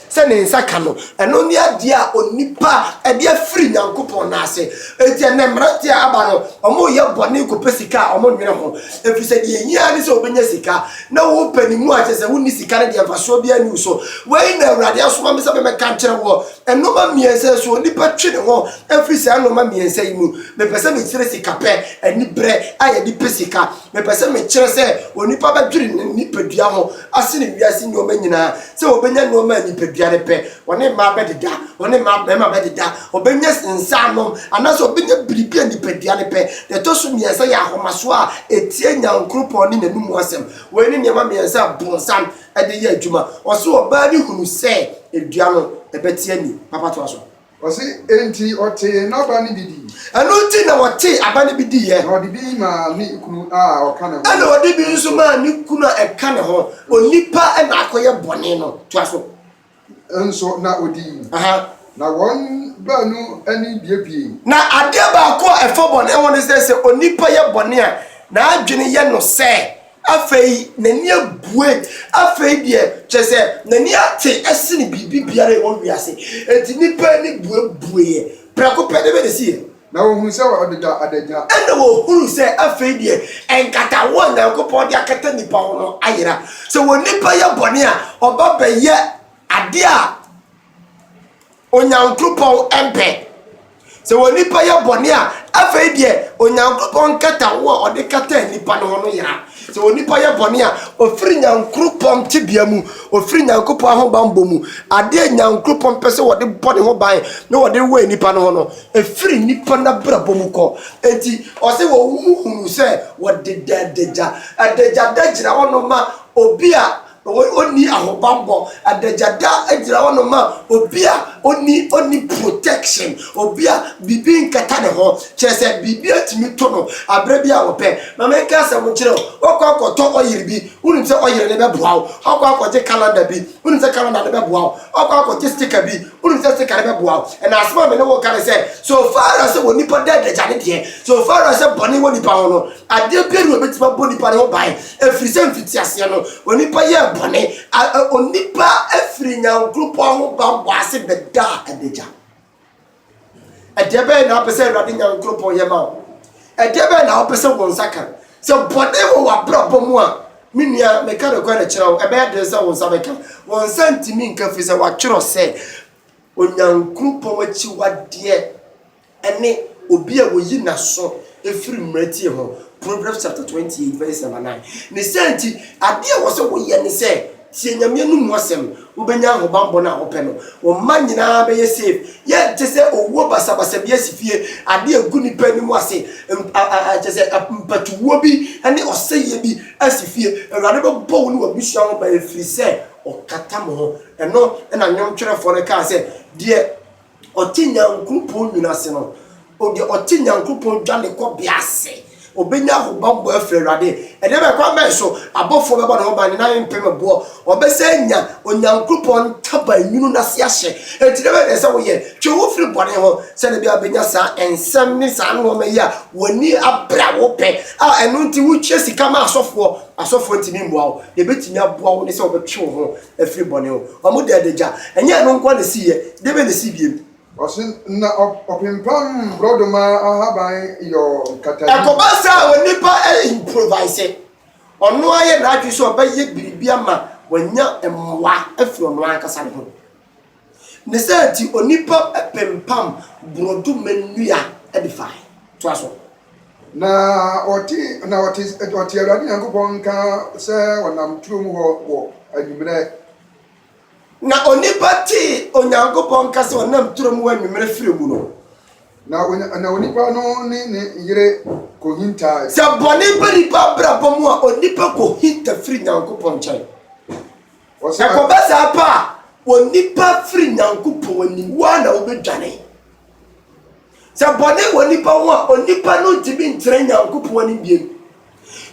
Sɛ ne nsa ka no, ɛno ne adeɛ a onipa de afiri Nyankopɔn nan ase. Enti ɛnnɛ mmeranteɛ a aba no, wɔreyɛ bɔne kɔpɛ sika a wɔnnwene ho, ɛfiri sɛ deɛ ɛhia ara ne sɛ wɔbɛnya sika. Na wopɛ ne mu a, kyerɛ sɛ wonni sika no deɛ, mfasoɔ biara nni wo so. Wei na Awurade asoma me sɛ memmɛka nkyerɛ woɔ, nnoɔma mmiɛnsa yi so, onipa twe ne ho firi saa nnoɔma mmiɛnsa yi mu. Mepɛ sɛ mekyerɛ sikapɛ, aniberɛ a yɛde pɛ sika. Mepɛ sɛ mekyerɛ sɛ onipa bɛdwere ne nipadua ho asene wiase nnoɔma nyinaa, sɛ ɔbɛnya nnoɔma a nipadua no pɛ, ɔne mmaa bɛdeda, ɔne mmaa mmarima bɛdeda, ɔbɛnya nsanom, anaasɛ ɔbɛnya biribi a nipadua no pɛ. Deɛ ɛtɔ so mmiɛnsa yɛ ahomasoɔ a ɛtia Nyankoropɔn ne n'anomu asɛm. Wei ne nneɛma mmiɛnsa a bonsam de yɛ adwuma. Ɔse ɔbaa no hunu sɛ dua no ɛbɛte ani. Papa toa so. Ɔse, Enti ɔtee n'aba no bi dii. Ɛno nti na ɔtee aba no bi diiɛ. Na ɔde bi maa ne kunu a ɔka ne ho. Ɛna ɔde bi nso maa ne kunu a ɛka ne ho. Onipa na akɔyɛ bɔne no. Toa so. Nso na ɔdii. Aha. Na wɔn baanu ani biebuee. Na adeɛ baako a ɛfa bɔne ho ne sɛ, sɛ onipa yɛ bɔne a, n'adwene yɛ no sɛ. Afei n'ani abue. Afei deɛ, kyerɛ sɛ, n'ani ate sene biribi biara a ɛwɔ wiase. Enti nnipa ani buebueeɛ prɛko pɛ. Dɛn na ɛsiiɛ? Na wɔhunu sɛ ɔde da adagya. Ɛnna wɔhunu sɛ afei deɛ, nkataho a Onyankopɔn de akata nnipa ho no ayera. Sɛ onipa yɛ bɔne a, ɔba bɛyɛ adeɛ a. Onyankropɔn mpɛ. Sɛ onipa yɛ bɔne a, afei deɛ Onyankropɔn nkataho a ɔde kataa nnipa no ho no yera. Sɛ onipa yɛ bɔne a, ɔfiri Nyankropɔn tebea mu, ɔfiri Nyankopɔn ahobanbɔ mu. Adeɛ a Nyankropɔn pɛ sɛ ɔde bɔ ne ho ban na ɔde wɛn nnipa no ho no, ɛfiri nnipa no abrabɔ mu kɔ. Enti ɔse wɔhunu sɛ wɔdeda adagya. Adagya da gyina hɔ no ma obi a Onni ahobammɔ, adagyada gyina hɔ no ma obi a onni onni protection, obi a biribi nkata ne ho, kyerɛ sɛ biribi atumi to no aberɛ bi a wɔpɛ. Ma menka asɛm nkyerɛ wo, woakɔ akɔtɔ ɔyere bi, wonim sɛ ɔyere no bɛboa wo, woakɔ akɔgye calendar bi, wonim sɛ calendar no bɛboa wo, woakɔ akɔgye sticker bi, wonim sɛ sticker no bɛboa wo. Ɛnna asɛm a me ne wo reka ne sɛ, so far as sɛ onipa da adagya ne deɛ, so far as sɛ bɔne wɔ nipa ho no, adeɛ biara nni hɔ a ɛbɛtumi abɔ nipa no ho ban. Ɛfiri sɛ mfitiaseɛ no, onipa yɛɛ bɔne, a onipa firi Nyankoropɔn ho bammɔ ase bɛdaa adagya. Ɛdeɛ bɛyɛ na wopɛ sɛ Awurade Nyankoropɔn yɛ ma wo? Ɛdeɛ bɛyɛ na wopɛ sɛ wo nsa ka? Sɛ bɔne wɔ w'abrabɔ mu a, me nua, meka nokorɛ kyerɛ wo, ɛbɛyɛ den sɛ wo nsa bɛka. Wo nsa ntumi nka, ɛfiri sɛ wɔatwerɛ sɛ, Onyankoropɔn akyiwadeɛ. ne obi a oyi n'aso firi mmerɛtie ho, Proverbs chapter twenty eight verse number nine. Ne saa nti, adeɛ a ɛwɔ sɛ woyɛ ne sɛ, tie Nyame anom mu asɛm, wobɛnya ahobammɔ no a wopɛ no, wo mma nyinaa bɛyɛ safe. Yɛnte sɛ owuo basabasa bi asi fie, adeɛ a ɛgu nnipa anim ase, kyerɛ sɛ mpatuwuo bi ne ɔsɛeɛ bi asi fie. Awurade bɛbɔ wo ne w'abusua ho ban ɛfiri sɛ ɔkata mo ho. Ɛno na nnwomtwerɛfoɔ no kaa sɛ, Deɛ Ɔte Nyankopɔn nwunu ase no, o deɛ ɔte Nyankopɔn dwanekɔbea ase, ɔbɛnya ahobammɔ afiri Awurade. Ɛdeɛ bɛn kwan bɛn so abɔfoɔ bɛbɔ ne ho ban, ne nan mpem boɔ? Ɔbɛsan anya Onyankopɔn ntaban nwunu no ase ahyɛ. Enti deɛ bɛn na ɛsɛ sɛ woyɛ? Twe wo ho firi bɔne ho, sɛdeɛ ɛbɛyɛ a wobɛnya saa nsɛm ne saa nnoɔma yi a w'ani abere a wopɛ. A ɛno nti wotua sika ma asɔfoɔ, asɔfoɔ ntumi mmoa wo. Deɛ ɛbɛtumi aboa wo ne sɛ wobɛtwe wo ho afiri bɔne ho. Wɔn de adagya. Ɛnyɛ ɛno nko ara na esiiɛ. Deɛ bɛn na esii bio? Wɔse na ɔpempam borɔdoma ahaban yɔ nkatani. Ɛkɔba saa a onipa improviser. Ɔno ara yɛ n'adwene sɛ ɔbɛyɛ biribi ama wanya mmoa afiri ɔno ankasa ne ho. Ne saa nti, onipa pempam borɔdɔma nnua de fae. Toa so. Na ɔte, na ɔte, ɔte Awurade Nyankopɔn nka sɛ ɔnam turo mu hɔ wɔ anwummerɛ. Na onipa tee Onyankopɔn nka sɛ ɔnam turo mu wɔ anwummerɛ firɛ mu no. Na, na onipa no ne ne yere kɔhintae. Sɛ bɔne ba nipa abrabɔ mu a, onipa kɔhinta firi Nyankopɔn nkyɛn. Ɛkɔba saa pɛ a, onipa firi Nyankopɔn anim, wo ara na wobɛdwane. Sɛ bɔne wɔ nipa ho a, onipa no ntumi ntena Nyankopɔn anim biem.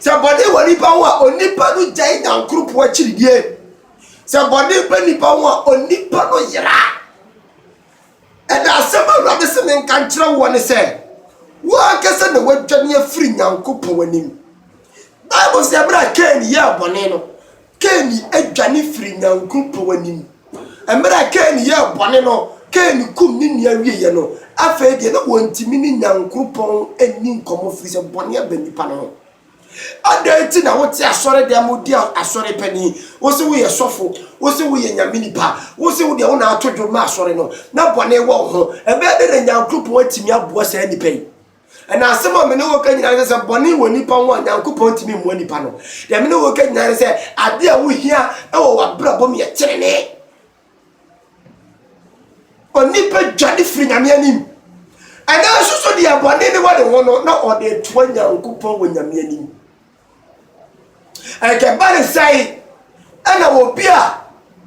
Sɛ bɔne wɔ nipa ho a, onipa no gyae Nyankoropɔn akyiridie. Sɛ bɔne bɛ nipa ho a, onipa no yera. Ɛna asɛm Awurade se menka nkyerɛ woɔ ne sɛ, wo ankasa na woadwane afiri Nyankopɔn anim. Bible se berɛ a Kain yɛɛ bɔne no, Kain dwane firii Nyankopɔn pɛw anim. Mmerɛ a Kain yɛɛ bɔne no, Kain kum ne nua wieeɛ no, afei deɛ na wɔntumi ne Nyankopɔn nni nkɔmmɔ firi sɛ bɔne aba nnipa no ho. Adɛn nti na wote asɔredɛm mu di asɔre panin, wo se woyɛ sɔfo, wo se woyɛ Nyame nipa, wo se wo deɛ wo na ato dwom ma asɔre no, na bɔne wɔ wo ho? Ɛbɛyɛ dɛn na Nyankopɔn atumi aboa saa nnipa yi? Na asɛm a me ne wo ka nyinaa ne sɛ bɔne wɔ nipa ho a Nyankopɔn ntumi mmoa nipa no. Deɛ me ne wo ka nyinaa ne sɛ adeɛ a wohia wɔ w'abrabɔ mu yɛ tenenee. Onipa dwane firi Nyame anim. Ɛnanso so deɛ bɔne ne wɔ ne ho no na ɔde toa Nyankopɔn wɔ Nyame anim. Ɛkɛba ne sɛe ɛna obi a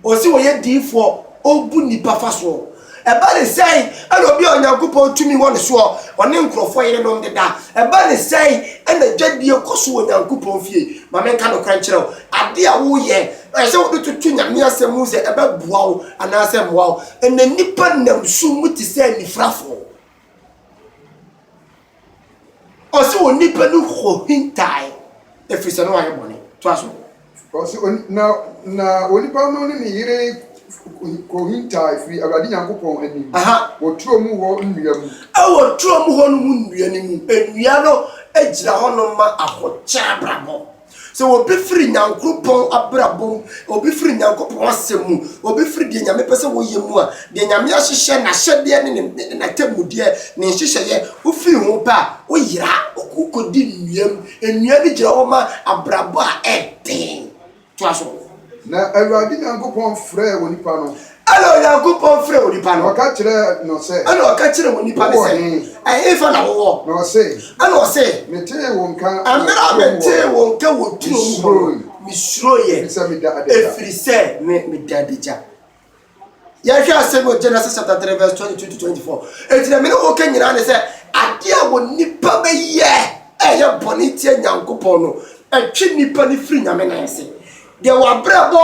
ɔse ɔyɛ diifoɔ ɔbu nnipa fa soɔ. Ɛba ne sɛe ɛna obi a Onyankopɔn tumi wɔ ne soɔ ɔne nkurɔfoɔ yerenom deda. Ɛba ne sɛe ɛna dwadie kɔ so wɔ Onyankopɔn fie. Ma menka nokorɛ nkyerɛ wo, adeɛ a woyɛ no ɛsɛ sɛ wode toto Nyame asɛm mu sɛ ɛbɛboa wo anaasɛ ɛmmoa wo. Ɛnɛ nnipa nam sum mu te sɛ anifirafoɔ. Ɔse onipa no kohintaae ɛfiri sɛ na wayɛ bɔne. Toa so. Ɔse na na onipa no ne ne yere kohintaae firi Awurade Nyankopɔn anim wɔ turo mu hɔ nnua mu. Ɛwɔ turo mu hɔ nom nnua no mu. Nnua no gyina hɔnom ma ahokyere abrabɔ. Sɛ obi firi Nyankoropɔn abrabɔ mu, obi firi Nyankopɔn asɛm mu, obi firi deɛ Nyame pɛ sɛ wɔyɛ mu a, deɛ Nyame ahyehyɛ, N'ahyɛdeɛ ne ne ne n'atemmudeɛ, ne nhyehyɛeɛ, wofiri ho pɛ a, woyera, wokɔdi nnua mu. Nnua no gyina hɔ ma abrabɔ a ɛyɛ den. Toa so. Na Awurade Nyankopɔn frɛɛ onipa no. Ɛnna Onyankopɔn frɛɛ onipa no. Na ɔka kyerɛɛ no sɛ. Ɛnna ɔka kyerɛɛ onipa no sɛ. Ɛhefa na wowɔ? Na ɔse. Ɛnna ɔse. Metee wo nka. Mmerɛ a metee wo nka wɔ turo mu hɔ no, mesuroeɛ. Ɛfiri sɛ meda adagya. Ɛfiri sɛ me meda adagya. Yɛhwɛ asɛm wɔ Genesis chapter three verse twenty two to twenty four. Eti na me ne woka nyinaa ne sɛ adeɛ a wɔ nipa bɛyɛ a ɛyɛ bɔne tia Nyankopɔn no ɛtwe nipa no firi Nyame nan ase. Deɛ w'abrɛbɔ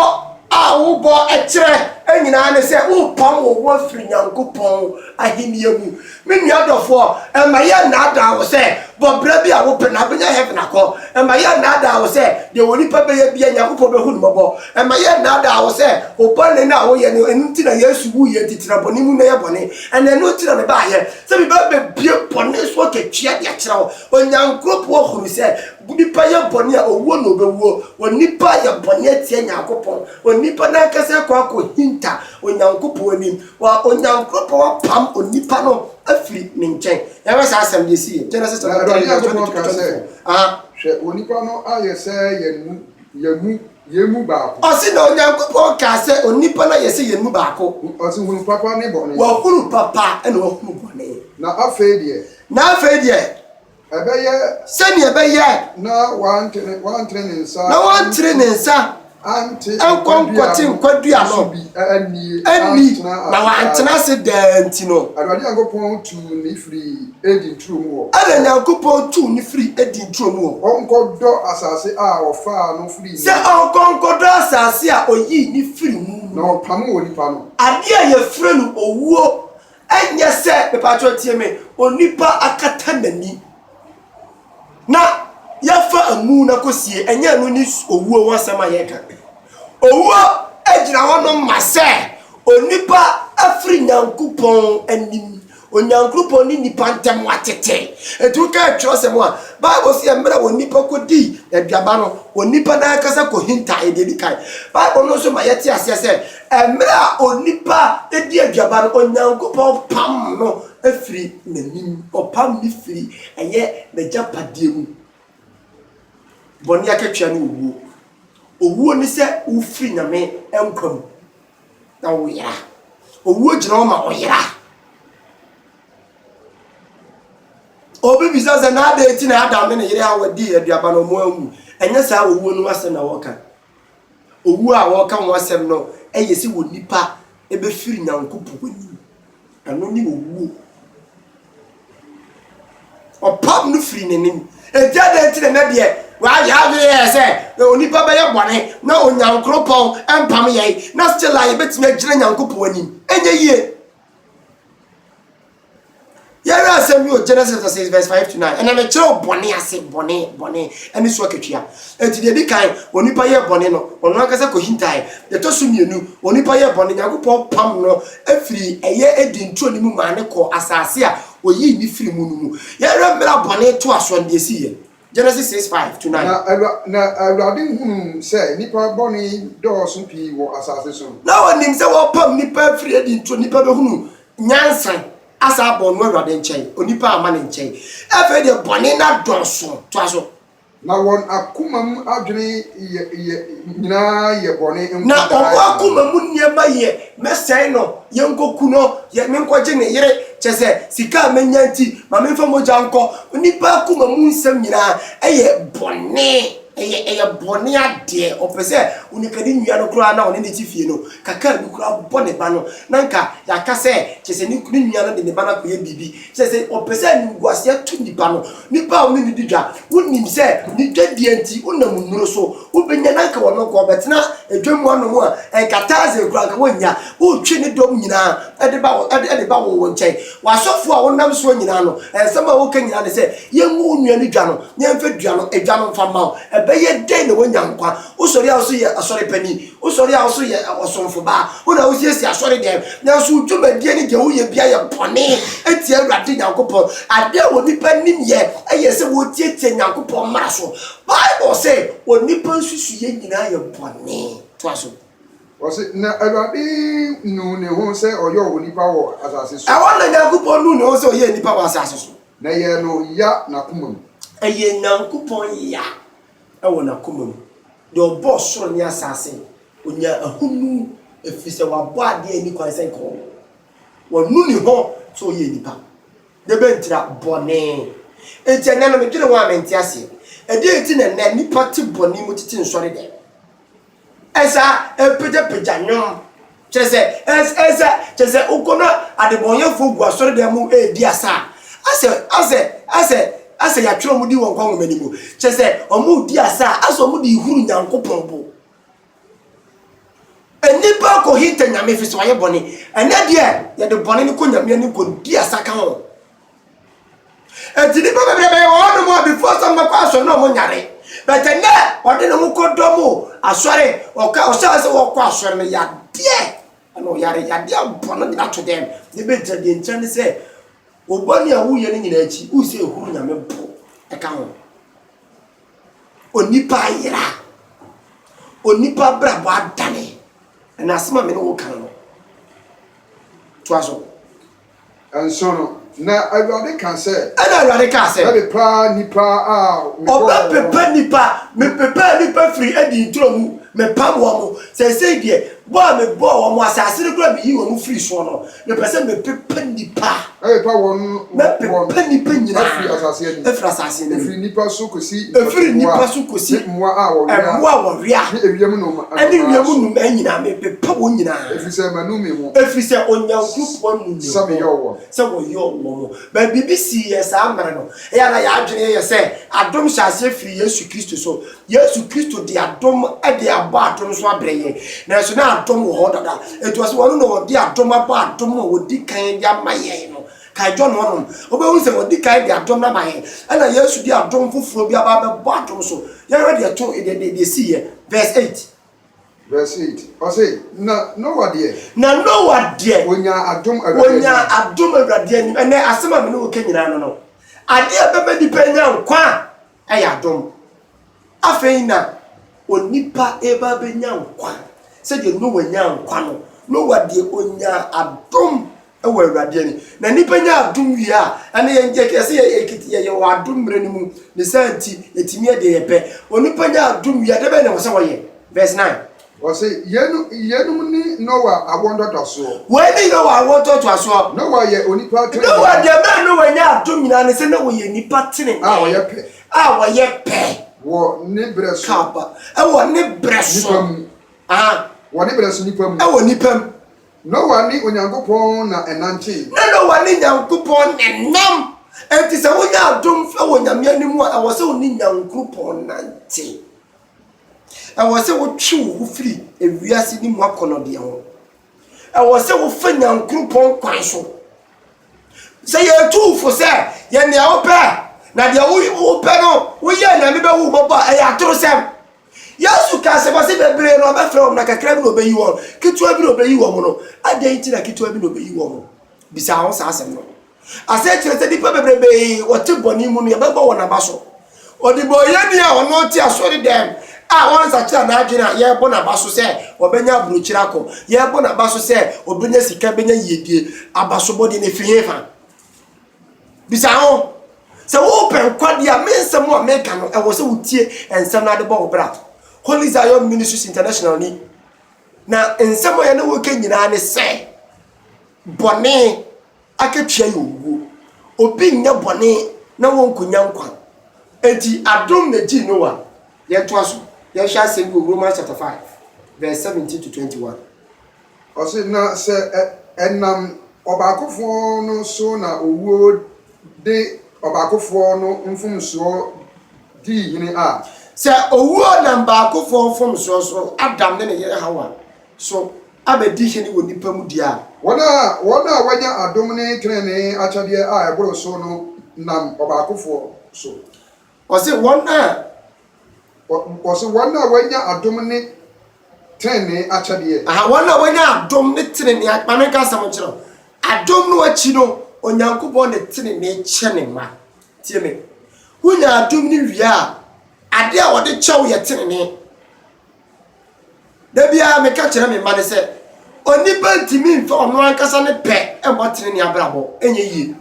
a wobɔ kyerɛ nyinaa ne sɛ worepam wo ho afiri Nyankopɔn ahennie mu. Me nua dɔfoɔ, mma yɛnnaadaa wo sɛ bɔ bra bi a wopɛ na wobɛnya heaven akɔ. Mma yɛnnaadaa wo sɛ deɛ onipa bɛyɛ biara Nyankopɔn bɛhu no mmɔbɔ. Mma yɛnnaadaa wo sɛ wo bɔne no a woyɛ no, ɛno nti na Yesu wuiɛ nti tena bɔne mu na yɛ bɔne. Ɛna ɛno nti na mebaeɛ, sɛ meba bɛbue bɔne so akatua de akyerɛ wo. Onyankoropɔn hunu sɛ Onipa yɛ bɔne a, owuo na ɔbɛwuo. Onipa ayɛ bɔne atia Nyankopɔn. Onipa n'ankasa akɔ akɔhinta Onyankopɔn anim. Wa, Onyankopɔn apam onipa no afiri Ne nkyɛn. Yɛnhwɛ saa asɛm no, deɛ ɛsiiɛ, Genesis Na chapter Awurade twenty, verse Nyankopɔn twenty-two, kaa sɛ, twenty-four. Aha. Hwɛ, onipa no ayɛ sɛ yɛn mu, yɛn mu, yɛn mu baako. Ɔse, na Onyankopɔn kaa sɛ, Onipa no ayɛ sɛ yɛn mu baako. Ɔse, hunu papa ne bɔne. Wahunu papa, ɛna wahunu bɔne. Na afei deɛ. Na afei deɛ. Ɛbɛyɛ. Sɛnea ɛbɛyɛ. Na wantere wantere ne nsa. Na wantere ne nsa. Ante nkɔ nkɔte nkwadua no. Ɛnni na wantena ase daa nti no. Awurade Nyankopɔn tuu ne firi Eden turo mu hɔ. Ɛna Nyankopɔn tuu ne firi Eden turo mu hɔ. Ɔnkɔdɔ asase a ɔfaa no firi mu. Sɛ ɔnkɔ nkɔdɔ asase a ɔyii ne firi mu. Na ɔpamoo onipa no. Adeɛ a yɛfrɛ no owuo Ɛnyɛ sɛ, mepakyɛw tie me, onipa akata n'ani na yɛafa amu no akosie, ɛnyɛ ɛno ne owuo ho asɛm a yɛreka. Owuo gyina hɔnom ma sɛ onipa afiri Nyankopɔn anim. Onyankopɔn ne nipa ntam wɔatete. Enti wokae twerɛsɛm a, Bible sɛ mmerɛ onipa kɔdi aduaba no, onipa no ankasa kɔhintaeɛ deɛ ɛdi kan. Bible no nso ma yɛte aseɛ sɛ Mmerɛ a onipa di aduaba no, Onyankopɔn pam no firi n'anim, ɔpam no firi ɛyɛ n'agyapadeɛ mu. Bɔne akatua ne owuo. Owuo ne sɛ wofiri Nyame nkwa mu na woyera. Owuo gyina hɔ ma ɔyera. Obi bisa sɛ na adɛn nti na Adam ne ne yere Hawa dii aduaba no wɔn anwu. Ɛnyɛ saa owuo no asɛm na wɔka. owu a wɔreka ho asɛm no yɛ sɛ onipa bɛfiri Nyankopɔn anim. Ɛno ne owuo. Ɔpam no firi n'anim. Enti adɛn nti na na deɛ wɔayɛ adwene yɛ sɛ onipa bɛyɛ bɔne na Onyankopɔn mpam yɛn na still a yɛbɛtumi agyina Nyankopɔn anim? Ɛnyɛ yie. Yɛhwɛ asɛm bi wɔ Genesis chapter six verse five to nine. Ɛnam ɛkyerɛ wɔ bɔne ase, bɔne, bɔne, ɛne so akatua. Eti deɛ edi kan, onipa yɛ bɔne no, ɔno ankasa kɔ hintae. Deɛ ɛtɔ so mmienu, onipa yɛ bɔne, Nyankopɔn pam no efiri ɛyɛ Eden turo no mu maa no kɔɔ asaase a oyii no firi mu no mu. Yɛhwɛ mmerɛ a bɔne toa soɔ no deɛ esii yɛ. Genesis six five to nine. Na Awura, na Awurade hunuu sɛ nnipa bɔne dɔɔso pii wɔ asase so. Na ɔnim sɛ wɔpam nnipa afiri adi nti onipa bɛhunu nyansa asan abɔ ɔno Awurade nkyɛn, onipa amma ne nkyɛn. Afei deɛ bɔne no adɔɔso. Toa so. Na wɔn akoma mu adwene yɛ, yɛ, nyinaa yɛ bɔne nko daa. Na wɔn akoma mu nneɛma yɛ, mɛsɛe no, Yɛnkɔku no, yɛ menkɔgye ne yere, kyerɛ sɛ, sika a mɛnya nti, ma memfa mogya nkɔ. Onipa akoma mu nsɛm nyinaa yɛ bɔne, ɛyɛ ɛyɛ bɔne adeɛ. Ɔpɛ sɛ onikadi nua no koraa na ɔne no te fie no, kakra a ɛbi koraa bɔ ne ba no, na anka yɛaka sɛ, kyerɛ sɛ, ne nua no de ne ba no akɔyɛ biribi. Sɛ sɛ ɔpɛ sɛ animguaseɛ to nipa no, nipa a ɔne no di dwa, wonim sɛ ne dwadeɛ nti wonam nnuro so wobɛnya no, anka ɔno nko ɔbɛtena dwa mu anom a, anka taazee koraa anka wonnya, wotwe ne dɔm nyinaa de ba de ba wo nkyɛn. W'asɔfoɔ a wonam soɔ nyinaa no, nsɛm a woka nyinaa ne sɛ, yɛngu wo nua no dwa no, na yɛmfa dua no dwa no mfa mma wo. Ɛbɛyɛ dɛn na woanya nkwa? Wosɔre a wo nso yɛ asɔre panin. Wosɔre a wo nso yɛ ɔsomfo baa, wo na wosiesie asɔredan, nanso wo dwumadie ne deɛ woyɛ biara yɛ bɔne tia Awurade Nyankopɔn. Adeɛ a onipa nim yɛ yɛ sɛ wotiatia Nyankopɔn mmara so. Bible se onipa nsusuiɛ nyinaa yɛ bɔne. Toa so. Ɔse, Na Awurade nuu ne ho sɛ ɔyɔɔ onipa wɔ asase so. Ɛhɔ na Nyankopɔn nuu ne ho sɛ ɔyɛɛ nipa wɔ asase so. Na ɛyɛɛ no ya n'akoma mu. Ɛyɛɛ Nyankopɔn ya wɔ n'akoma mu, deɛ ɔbɔɔ soro ne asaase, ɔnyaa ahonu, ɛfiri sɛ wabɔ adeɛ a ɛnni kwan sɛ nka ɔwɔ, wanu ne ho sɛ ɔyɛ nnipa, na ɛbɛntira bɔne. Enti ɛnnɛ no, medwene ho a mente aseɛ, ɛdeɛn nti na ɛnnɛ nnipa te bɔne mu tete nsɔre dɛm? Ɛsa ɛrepagyapagya nnwom. Kyerɛ sɛ, ɛs, ɛsa, kyerɛ sɛ, wokɔ na adebɔnyɛfoɔ gu asɔredan mu redi asa a, asɛ, asɛ, asɛ, asɛ yɛatwerɛ wɔn din wɔ nkwa nwoma no mu. Kyerɛ sɛ, wɔredi asa a, asɛ wɔde rehuru Nyankopɔn bo. Nnipa kɔhinta Nyame ɛfiri sɛ wɔayɛ bɔne. Ɛnnɛ deɛ, yɛde bɔne no kɔ Nyame anim kɔdi asa ka ho. Eti nipa bebree bɛyɛ wɔ hɔnom a before sɛ wɔbɛkɔ asɔre na wɔn nyare. But ɛnɛ ɔde ne ho kɔ dɔ mu asɔre ɔka ɔsɛ sɛ wɔkɔ asɔre no yadeɛ ɛna ɔyare yadeɛ bɔ no nyina to dɛm ne bɛ nkyerɛ deɛ nkyerɛ ne sɛ ɔbɔ ne a woyɛ no nyina akyi wo sɛ ɛhunu nyame bo ɛka ho onipa ayera onipa brabɔ adane ɛna asɛm a me ne wo kan no to aso. Nso no, na Awurade ka sɛ. Ɛnna Awurade kaa sɛ. Mɛpepa nnipa a mebɔɔ wɔn. Ɔbɛpepa nnipa. Mepepaa nnipa firii Eden turo mu, mepam wɔn. Seesei deɛ, bɔ a mebɔɔ wɔn, asase no koraa a meyii wɔn firii soɔ no, mepɛ sɛ mepepa nnipa. Mɛpepa wɔn. Mɛpepa nnipa nyinaa. Afiri asase anim. Afiri asase anim. Ɛfiri nnipa so kɔsi mmoa. Ɛfiri nnipa so kɔsi. Ne mmoa a wɔwea. Mmoa a wɔwea. Ne ewiem nnomaa. Ɛne ewiem nnomaa nyinaa, mepepa wɔn nyinaa. Sɛ manu me ho. Ɛfiri sɛ Onyankopɔn nim ne ho sɛ wɔyɔɔ wɔn. But biribi sii yɛn saa mmerɛ no. Ɛyɛ a na yɛn adwene yɛ sɛ adom hyɛ aseɛ firi Yesu Kristo so. Yesu Kristo de adom de abɔ adom so abrɛ yɛn. Nanso na adom wɔ hɔ dada. Ɛnti ɔse ɔno na ɔde adom abɔ adom a ɔdi kan de ama yɛn no. Kae John hɔnom. Wobɛhunu sɛ ɔdi kan de adom no ama yɛn. Ɛna Yesu de adom foforɔ bi aba abɛbɔ adom so. Yɛnhwɛ deɛ ɛto, deɛ ɛsii yɛ. Verse eight. Verse eight, ɔse, Na Noah deɛ. Na Noah deɛ. Onyaa adom Awurade anim. Onyaa adom Awurade anim. Ɛnnɛ, asɛm a me ne wo reka nyinaa no no, adeɛ a ɛbɛma nipa anya nkwa a, ɛyɛ adom. Afei na onipa reba abɛnya nkwa, sɛdeɛ Noah nyaa nkwa no, Noah deɛ onyaa adom wɔ Awurade ani. Na nnipa nya adom wie a, ɛno yɛn deɛ kɛse yɛ yɛkete yɛ yɛwɔ adom mmerɛ no mu, ne saa nti yɛtumi yɛ deɛ yɛpɛ. Onipa nya adom wie a, deɛ bɛn na ɛwɔ sɛ wɔyɛ? Verse 9. Wɔse, Yeinom, yeinom ne Noa awoɔ ntɔtɔsoɔ. Wei ne Noa awoɔ ntɔtɔsoɔ. Noa yɛ onipa tenenee. Noa deɛ mmerɛ Noa nya adom nyinaa ne sɛ na ɔyɛ nipa tenenee. A ɔyɛ pɛ. A ɔyɛ pɛ. Wɔ ne berɛ so. Kaba. Ɛwɔ ne berɛ so. Nipa mu. Ah. Wɔ ne berɛ so nipa mu. Ɛwɔ nipa mu. Noa ne Onyankopɔn na ɛnantee. Na Noa ne Nyankopɔn na ɛnam. Enti sɛ wonya adom wɔ Nyame anim a, ɛwɔ sɛ wo ne Nyankopɔn nante. Ɛwɔ sɛ wo twe wo ho firi ewiase no mu akɔnɔdeɛ ho. Ɛwɔ sɛ wo fa Nyankopɔn kwan so. Sɛ yɛtu wo fo sɛ, yɛ nea wo pɛ, na deɛ wo pɛ no wo yɛ na me bɛ hu wo mmɔbɔ a, ɛyɛ atorosɛm. Yesu kaa sɛ, wɔse bebree na ɔbɛfrɛ wɔn na kakra bi na ɔbɛyi wɔn, ketewa bi na ɔbɛyi wɔn no, adɛn nti na ketewa bi na ɔbɛyi wɔn? Bisa wo ho saa asɛm no. Asɛ kyerɛ sɛ nnipa bebrebee wɔte bɔne mu no, yɛbɛbɔ wɔn aba so. Ɔdebɔneyɛni a ɔno te asɔredɛm a ɔnsakyera n'adwene a, yɛrebɔ no aba so sɛ ɔbɛnya aburokyire akɔ, yɛrebɔ no aba so sɛ ɔbɛnya sika, bɛnya yiedie. Abasobɔdeɛ no, ɛfiri hefa? Bisa ho, Sɛ worepɛ nkwa di a, me nsɛm a meka no, ɛwɔ sɛ wutie nsɛm na ade bɔ wo bra? Holy Zion Ministries International ni, na nsɛm a yɛne wo reka nyinaa ne sɛ, Bɔne akatua yɛ owuo. Obi nyɛ bɔne na wɔnkɔnya nkwa. Enti adom na gye Noa. Yɛntoa so, yɛnhwɛ asɛm bi wɔ Romans chapter 5 verse 17 to 21. Ɔse, na sɛ ɛnam ɔbaakofoɔ no so na owuo de ɔbaakofoɔ no mfomsoɔ dii hene a. Sɛ owuo nam baakofoɔ mfomsoɔ so, Adam ne ne yere Hawa, so abɛdi hene wɔ nnipa mu deɛ a. Wɔn a wɔn a wɔanya adom ne tenenee akyɛdeɛ a ɛboro so no nam ɔbaakofoɔ so. Ɔse wɔn a Ɔse wɔn a wɔanya adom ne tenenee akyɛdeɛ. Aha, wɔn a wɔanya adom ne tenenee a, ma me nka asɛm nkyerɛ wo. Adom no akyi no, Onyankopɔn de tenenee kyɛ Ne mma. Tie me. Wonya adom no wie a, adeɛ a Ɔde kyɛ wo yɛ tenenee. Da biara meka kyerɛ me mma no sɛ, onipa ntumi mfa ɔno ankasa ne pɛ mmɔ tenenee abrabɔ, ɛnyɛ yie.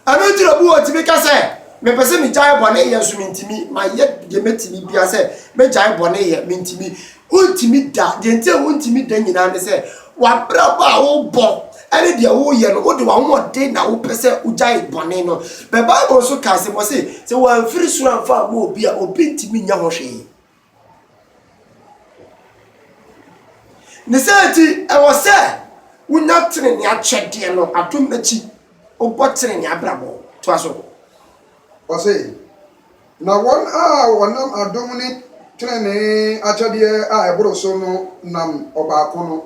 Ɛno nti na obi wɔ tumi ka sɛ, Mepɛ sɛ megyae bɔne yɛ nso mentumi. Mayɛ deɛ mɛtumi bia sɛ mɛgyae bɔne yɛ, mentumi. Wontumi da. Deɛ nti a wontumi da nyinaa ne sɛ, w'abrabɔ a wobɔ ne deɛ woyɛ no, wode w'ahoɔden na wopɛ sɛ wogyae bɔne no. But Bible nso ka asɛm, ɔse, sɛ wɔamfiri soro amfa amma obi a, obi ntumi nyɛ ho hwee. Ne saa nti, ɛwɔ sɛ wonya tenenee akyɛdeɛ no adom akyi, wobɔ tenenee abrabɔ. Toa so. Ɔse, Na wɔn a wɔnam adom ne tenenee akyɛdeɛ a ɛboro so no nam ɔbaako no,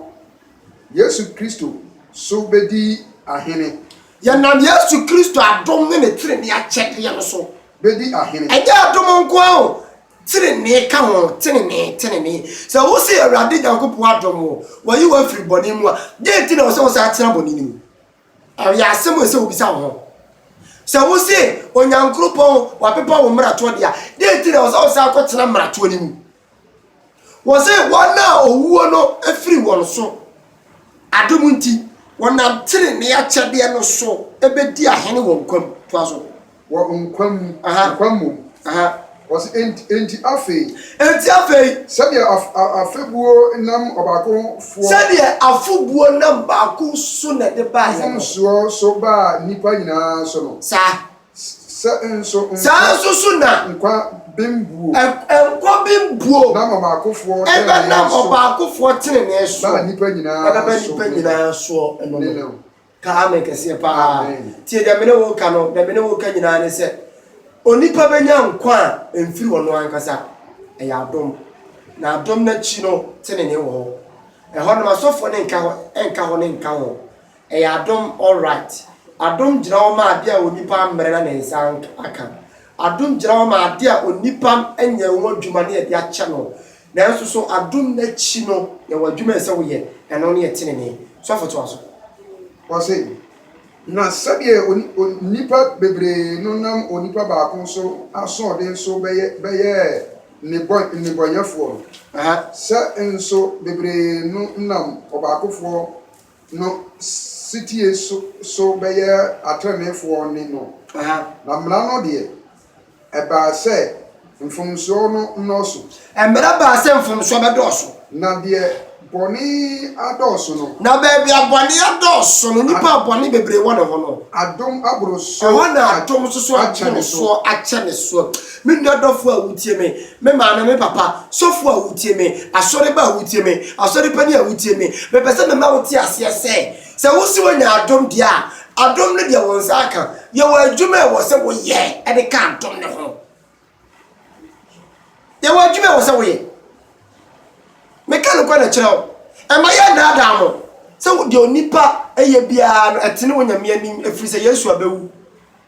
Yesu Kristo, so bɛdi ahene. Yɛnam Yesu Kristo adom ne ne tenenee akyɛdeɛ no so. Bɛdi ahene. Ɛnyɛ adom nko ara o, Tenenee ka ho, tenenee, tenenee. Sɛ wose Awurade Nyankopɔn adom wo, wayi wo afiri bɔne mu a, dɛn nti na ɛwɔ sɛ wosan tena bɔne no mu? Ɛyɛ asɛm a ɛsɛ sɛ wobisa wo ho. Sɛ wose Onyankropɔn, wapepa wo mmaratoɔ deɛ a, dɛn nti na ɛwɔ sɛ wosan kɔtena mmaratoɔ no mu? Wɔse wɔn a owuo no firi wɔn so Adom nti, wɔnam trenee akyɛdeɛ no so bɛdi ahene wɔ nkwa mu. Toa so. Wɔ nkwa mu, nkwa mmom. Aha. Wɔse, Enti, enti afei. Enti afei. Sɛdeɛ af, af, afebuo nam ɔbaako foɔ. Sɛdeɛ afobuo nam baako so na ɛde baeɛ no. Mfomsoɔ so baa nnipa nyinaa so no. Saa. Saa ara nso so na nkwa bem buo ɛbɛnam ɔbaakofoɔ tenenee soɔ ɛbɛba nnipa nyinaa soɔ ɛno no ka amen kɛseɛ paa tie deɛ mene wo ka no deɛ mene wo ka nyinaa ne sɛ onipa bɛnya nkwa a ɛmfiri ɔno ankasa ɛyɛ adom na adom no akyi no tenenee wɔ hɔ ɛhɔ nom asɔfoɔ no nka hɔ nka hɔ ne nka hɔ Ɛyɛ adom all right. Adom gyina hɔ ma ade a onipa ammrɛ na ne nsa aka. Adom gyina hɔ ma ade a onipa anya ho adwuma na yɛde akyɛ no. Nanso so adom no akyi no yɛwɔ adwuma a ɛsɛ woyɛ, ɛno ne yɛ tenenee. Sɔfo toa so. Ɔse, Na sɛdeɛ nnipa bebree no nam onipa baako so asoɔden so bɛyɛɛ nnebɔneyɛfoɔ no, sɛ nso bebree no nam ɔbaakofoɔ no setie so bɛyɛ ateneneefoɔ ne no. Na mmara no deɛ, ɛbaa sɛ mfomsoɔ no nnɔɔso. Mmara baa sɛ mfomsoɔ bɛdɔɔso. Na deɛ bɔne adɔɔso no. Na baabi a bɔne adɔɔso no, nipa a bɔne bebree wɔ ne ho no. Adom aboro so akyɛ ne soɔ. Ɛhɔ na adom nso so aboro soɔ akyɛ ne soɔ. Me nua dɔfo a wutie me, me maame, me papa, sɔfo a wutie me, asɔreba a wutie me, asɔre panyin a wutie me, mepɛ sɛ mema wote aseɛ sɛ, sɛ wose woanya adom deɛ a, adom no deɛ wo nsa aka. Yɛwɔ adwuma a ɛwɔ sɛ woyɛ de ka adom no ho. Yɛwɔ adwuma a ɛwɔ sɛ woyɛ. Meka nokorɛ na ɛkyerɛ wo. Ɛma yɛnnaadaa mo sɛ deɛ onipa yɛ biara no, ɛtene wɔ Nyame anim, ɛfiri sɛ Yesu abɛwu.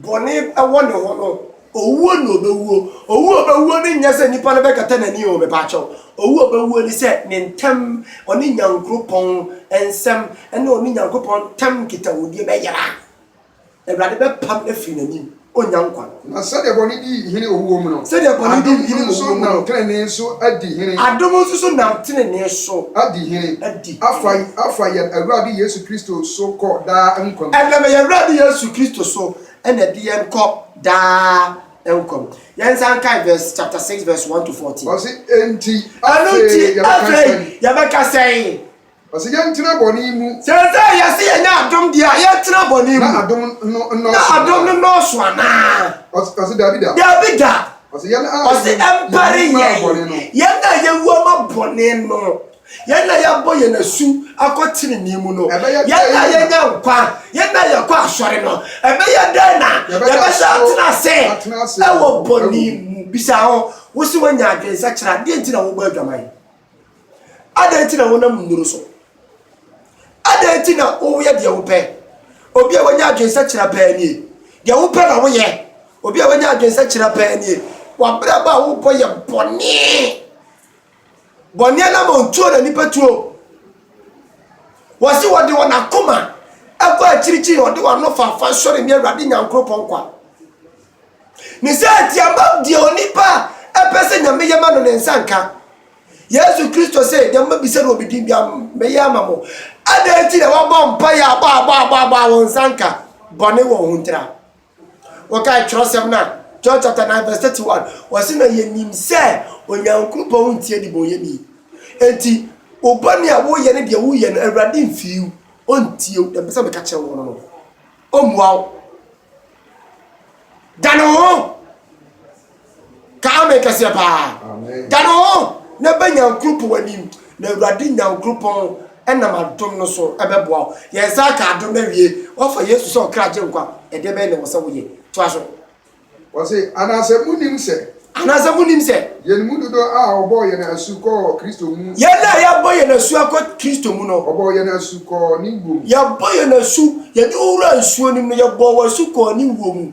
bɔne wɔ ne ho no, owuo na ɔbɛwuo. Owuo a ɔbɛwuo no nyɛ sɛ nnipa no bɛkata n'ani o, mepaakyɛw. Owuo a ɔbɛwuo ne sɛ ne ntam, ɔne Nyankropɔn nsɛm ne ɔne Nyankropɔn ntam nkitahodie bɛyera. Awurade bɛpam no afiri n'anim, ɔnnya nkwa. Na sɛdeɛ bɔne di hene owuo mu no, Sɛdeɛ bɔne di adom hene owuo nso mu no, nam tenenee so adi hene. adom nso so nam tenenee so Adi hene. adi. afa afa yɛn Awurade Yesu Kristo so kɔ daa nkwa mu. Ɛnam yɛn Awurade Yesu Kristo so na ɛde yɛn kɔ daa nkwa mu. Yɛn nsa nkae verse chapter six verse one to fourteen. Ɔsi enti afei yɛbɛka sɛn? Yɛbɛka sɛn? Ɔsi yɛn tena bɔne mu. Sɛsɛ yɛsi yɛn nya adom deɛ a yɛn tena bɔne mu. Na adom no nnɔɔso. Na adom no nnɔɔso anaa? Ɔsi dabi da. Dabi da. Ɔsi yɛn a yɛn mpare yɛn. Yɛn a yɛn wu ama bɔne no. Yɛn a yɛabɔ yɛn asu akɔ tenenee mu no, yɛn a yɛanya nkwa, yɛn a yɛkɔ asɔre no, ɛbɛyɛ dɛn na yɛbɛsan atena ase wɔ bɔne mu? Bisa ho, Wo se woanya adwensakyera? Adɛn nti na wobɔ adwaman? Adɛn nti na wonam nnuru so? Adɛn nti na woyɛ deɛ wopɛ? Obi a wanya adwensakyera paa nie. Deɛ wopɛ na woyɛ. Obi a wanya adwensakyera paa nie. W'abrabɔ a wobɔ yɛ bɔne. Bɔne anam a ɔtuo na nipa tuo. Wɔsi wɔde wɔn akoma ɛkɔ akyirikyiri, wɔde wɔn ano faafa sɔre ne Awurade Nyankoropɔn kwa. Ne sɛ atiaba deɛ onipa ɛpɛ sɛ nyame yɛ ma no ne nsa nka. Yesu Kristo sɛ deɛ mobɛbisa no wɔ me din bi a mɛyɛ ama mo. Adɛn nti na wɔbɔ mpaeɛ a bɔ a bɔ a bɔ a bɔ a wɔn nsa nka bɔne wɔn ho ntira. Wokae twerɛsɛm no a, John chapter 9 verse 31, ɔse na yɛnim sɛ Onyankopɔn ntie nnebɔneyɛni. Enti wo bɔne a woyɛ ne deɛ woyɛ no Awurade mfii wo, ɔntie wo, deɛ mpɛ sɛ meka kyerɛ wo no no, ɔmmua wo. Dane wo ho! Ka amen kɛseɛ paa. Dane wo ho na bɛ Nyankropɔn anim na Awurade Nyankropɔn nam adom no so bɛboa wo. Yɛn nsa aka adom no awie. Woafa Yesu sɛ ɔkra gyenkwa. Ɛdeɛ bɛn na ɛwɔ sɛ woyɛ? Toa so. Ɔse, Anaasɛ monnim sɛ. Anaasɛ monnim sɛ. Yɛn mu dodoɔ a wɔbɔɔ yɛn asu kɔɔ Kristo mu. Yɛn a yɛabɔ yɛn asu akɔ Kristo mu no. Wɔbɔɔ yɛn asu kɔɔ ne wuo mu. Yɛbɔ yɛn asu, yɛde wo wuraa nsuo no mu no, yɛbɔɔ wo asu kɔɔ ne wuo mu.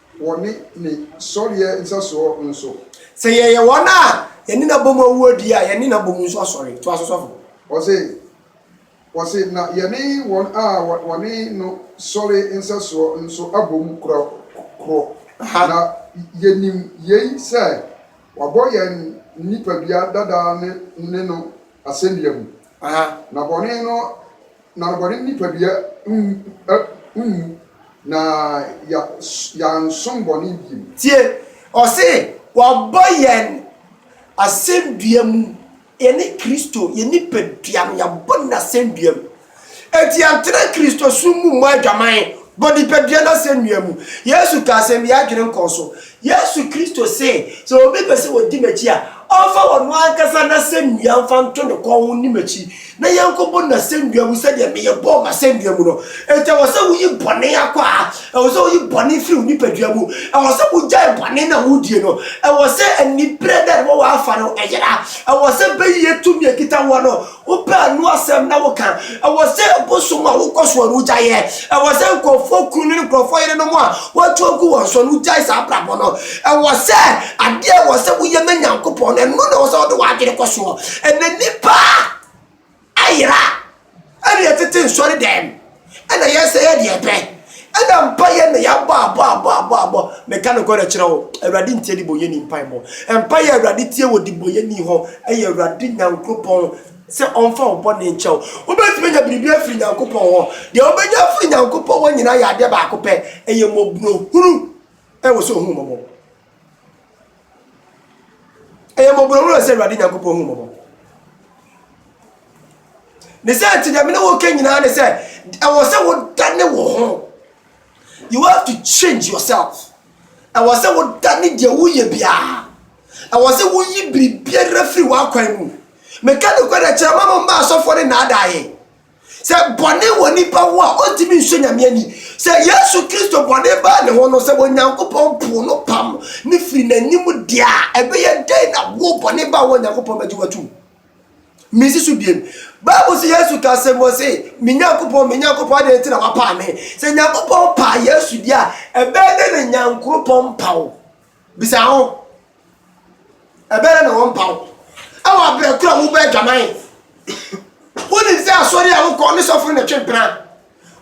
wɔ ne ne sɔreɛ nsɛsoɔ no so. Sɛ yɛyɛ wɔn a yɛne no abom awuo deɛ a, yɛne no abom nso asɔre. Toa so sɔfo. Ɔse, ɔse, na yɛne wɔn a wɔne no sɔre nsɛsoɔ nso abom korɔ korɔ. Aha. Na yɛnim yei sɛ wabɔ yɛn nnipadua dada no ne no asɛnnua mu. Aha. Na bɔne no Na bɔne nipadua nwu, na yɛansom bɔne bio. Tie, ɔse wabɔ yɛn asɛndua mu, yɛne Kristo, yɛn nipadua no yɛabɔ no asɛndua mu. Enti yɛntena Kristosom mu mmɔ adwaman bɔ nipadua no asɛnnua mu. Yesu kaa sɛ, Nni adwene nkɔɔ so. Yesu Kristo see, Sɛ obi pɛ sɛ ɔdi m'akyi a, ɔmfa ɔno ankasa n'asɛnnua mfa nto ne kɔn ho nni m'akyi, na yɛnkɔbɔ n'asɛnnua mu sɛdeɛ meyɛ bɔɔ m'asɛnnua mu no. Enti ɛwɔ sɛ woyi bɔne akwaa, ɛwɔ sɛ woyi bɔne firi wo nipadua mu, ɛwɔ sɛ wogyae bɔne no a wodie no, ɛwɔ sɛ aniberɛ da a ɛde bɛwɔ afa no ɛyera, ɛwɔ sɛ bɛyiyɛ tumi a ɛkita woɔ no, Wopɛ ano asɛm na woka. Ɛwɔ sɛ bosom a wokɔ soɔ no wogya yɛ. Ɛwɔ sɛ nkurɔfoɔ kunu ne nkurɔfoɔ yerenom a wɔatu agu wɔn soɔ no wogyae saa abrabɔ no. Ɛwɔ sɛ adeɛ a ɛwɔ sɛ woyɛ ma Nyankopɔn no, ɛno na ɛwɔ sɛ wode w'adwene kɔ soɔ. Ɛnɛ nnipa ayera ɛne ɛtete nsɔredɛm. ɛna yɛ sɛ yɛ deɛ pɛ ɛna mpa yɛ na yɛabɔ abɔ abɔ abɔ abɔ meka no kɔrɛ kyerɛ wo awurade ntie de bɔ yɛni mpa bɔ mpa yɛ awurade tie wɔ de bɔ yɛni hɔ ɛyɛ awurade nyankopɔn sɛ ɔmfa wo bɔne nkyɛ wo wobɛtumi nya biribi afiri nyankopɔn hɔ deɛ wobɛnya afiri nyankopɔn hɔ nyina yɛ adeɛ baako pɛ ɛyɛ mɔborɔ hunu ɛwɔ sɛ ohun mɔbɔ Ɛyɛ mmɔborɔhunu a ɛsɛ Awurade Nyankopɔn hu mmɔbɔ. Ne sɛ nti deɛ mene woka nyinaa ne sɛ ɛwɔ sɛ wodane wo ho. You have to change yourself. Ɛwɔ sɛ wodane deɛ woyɛ biara. Ɛwɔ sɛ woyi biribiara firi w'akwan mu. Meka nokorɛ kyerɛ ma mo mma asɔfoɔ ne nnaadaeɛ. Sɛ bɔne wɔ nipa ho a, ɔntumi nsɔ Nyame ani. Sɛ Yesu Kristo bɔne baa ne ho no, sɛ Onyankopɔn poo no pam ne firi n'anim deɛ a, ɛbɛyɛ dɛn na wo bɔne ba wo a Onyankopɔn bɛgye watum? Mensi so biem. Bible sɛ Yesu ka sɛ mɔ se, me Nyankopɔn, me Nyankopɔn, adɛn nti na wapaa me? Sɛ Nyankopɔn paa Yesu deɛ a, ɛbɛyɛ dɛn na Nyankoropɔn mpa wo? Bisa ho, Ɛbɛyɛ na wɔmpaw wɔ abrɛ koro a wobɔ adwaman? Wonim sɛ asɔre a wokɔ ne sɔfo na ɛtwe mpena?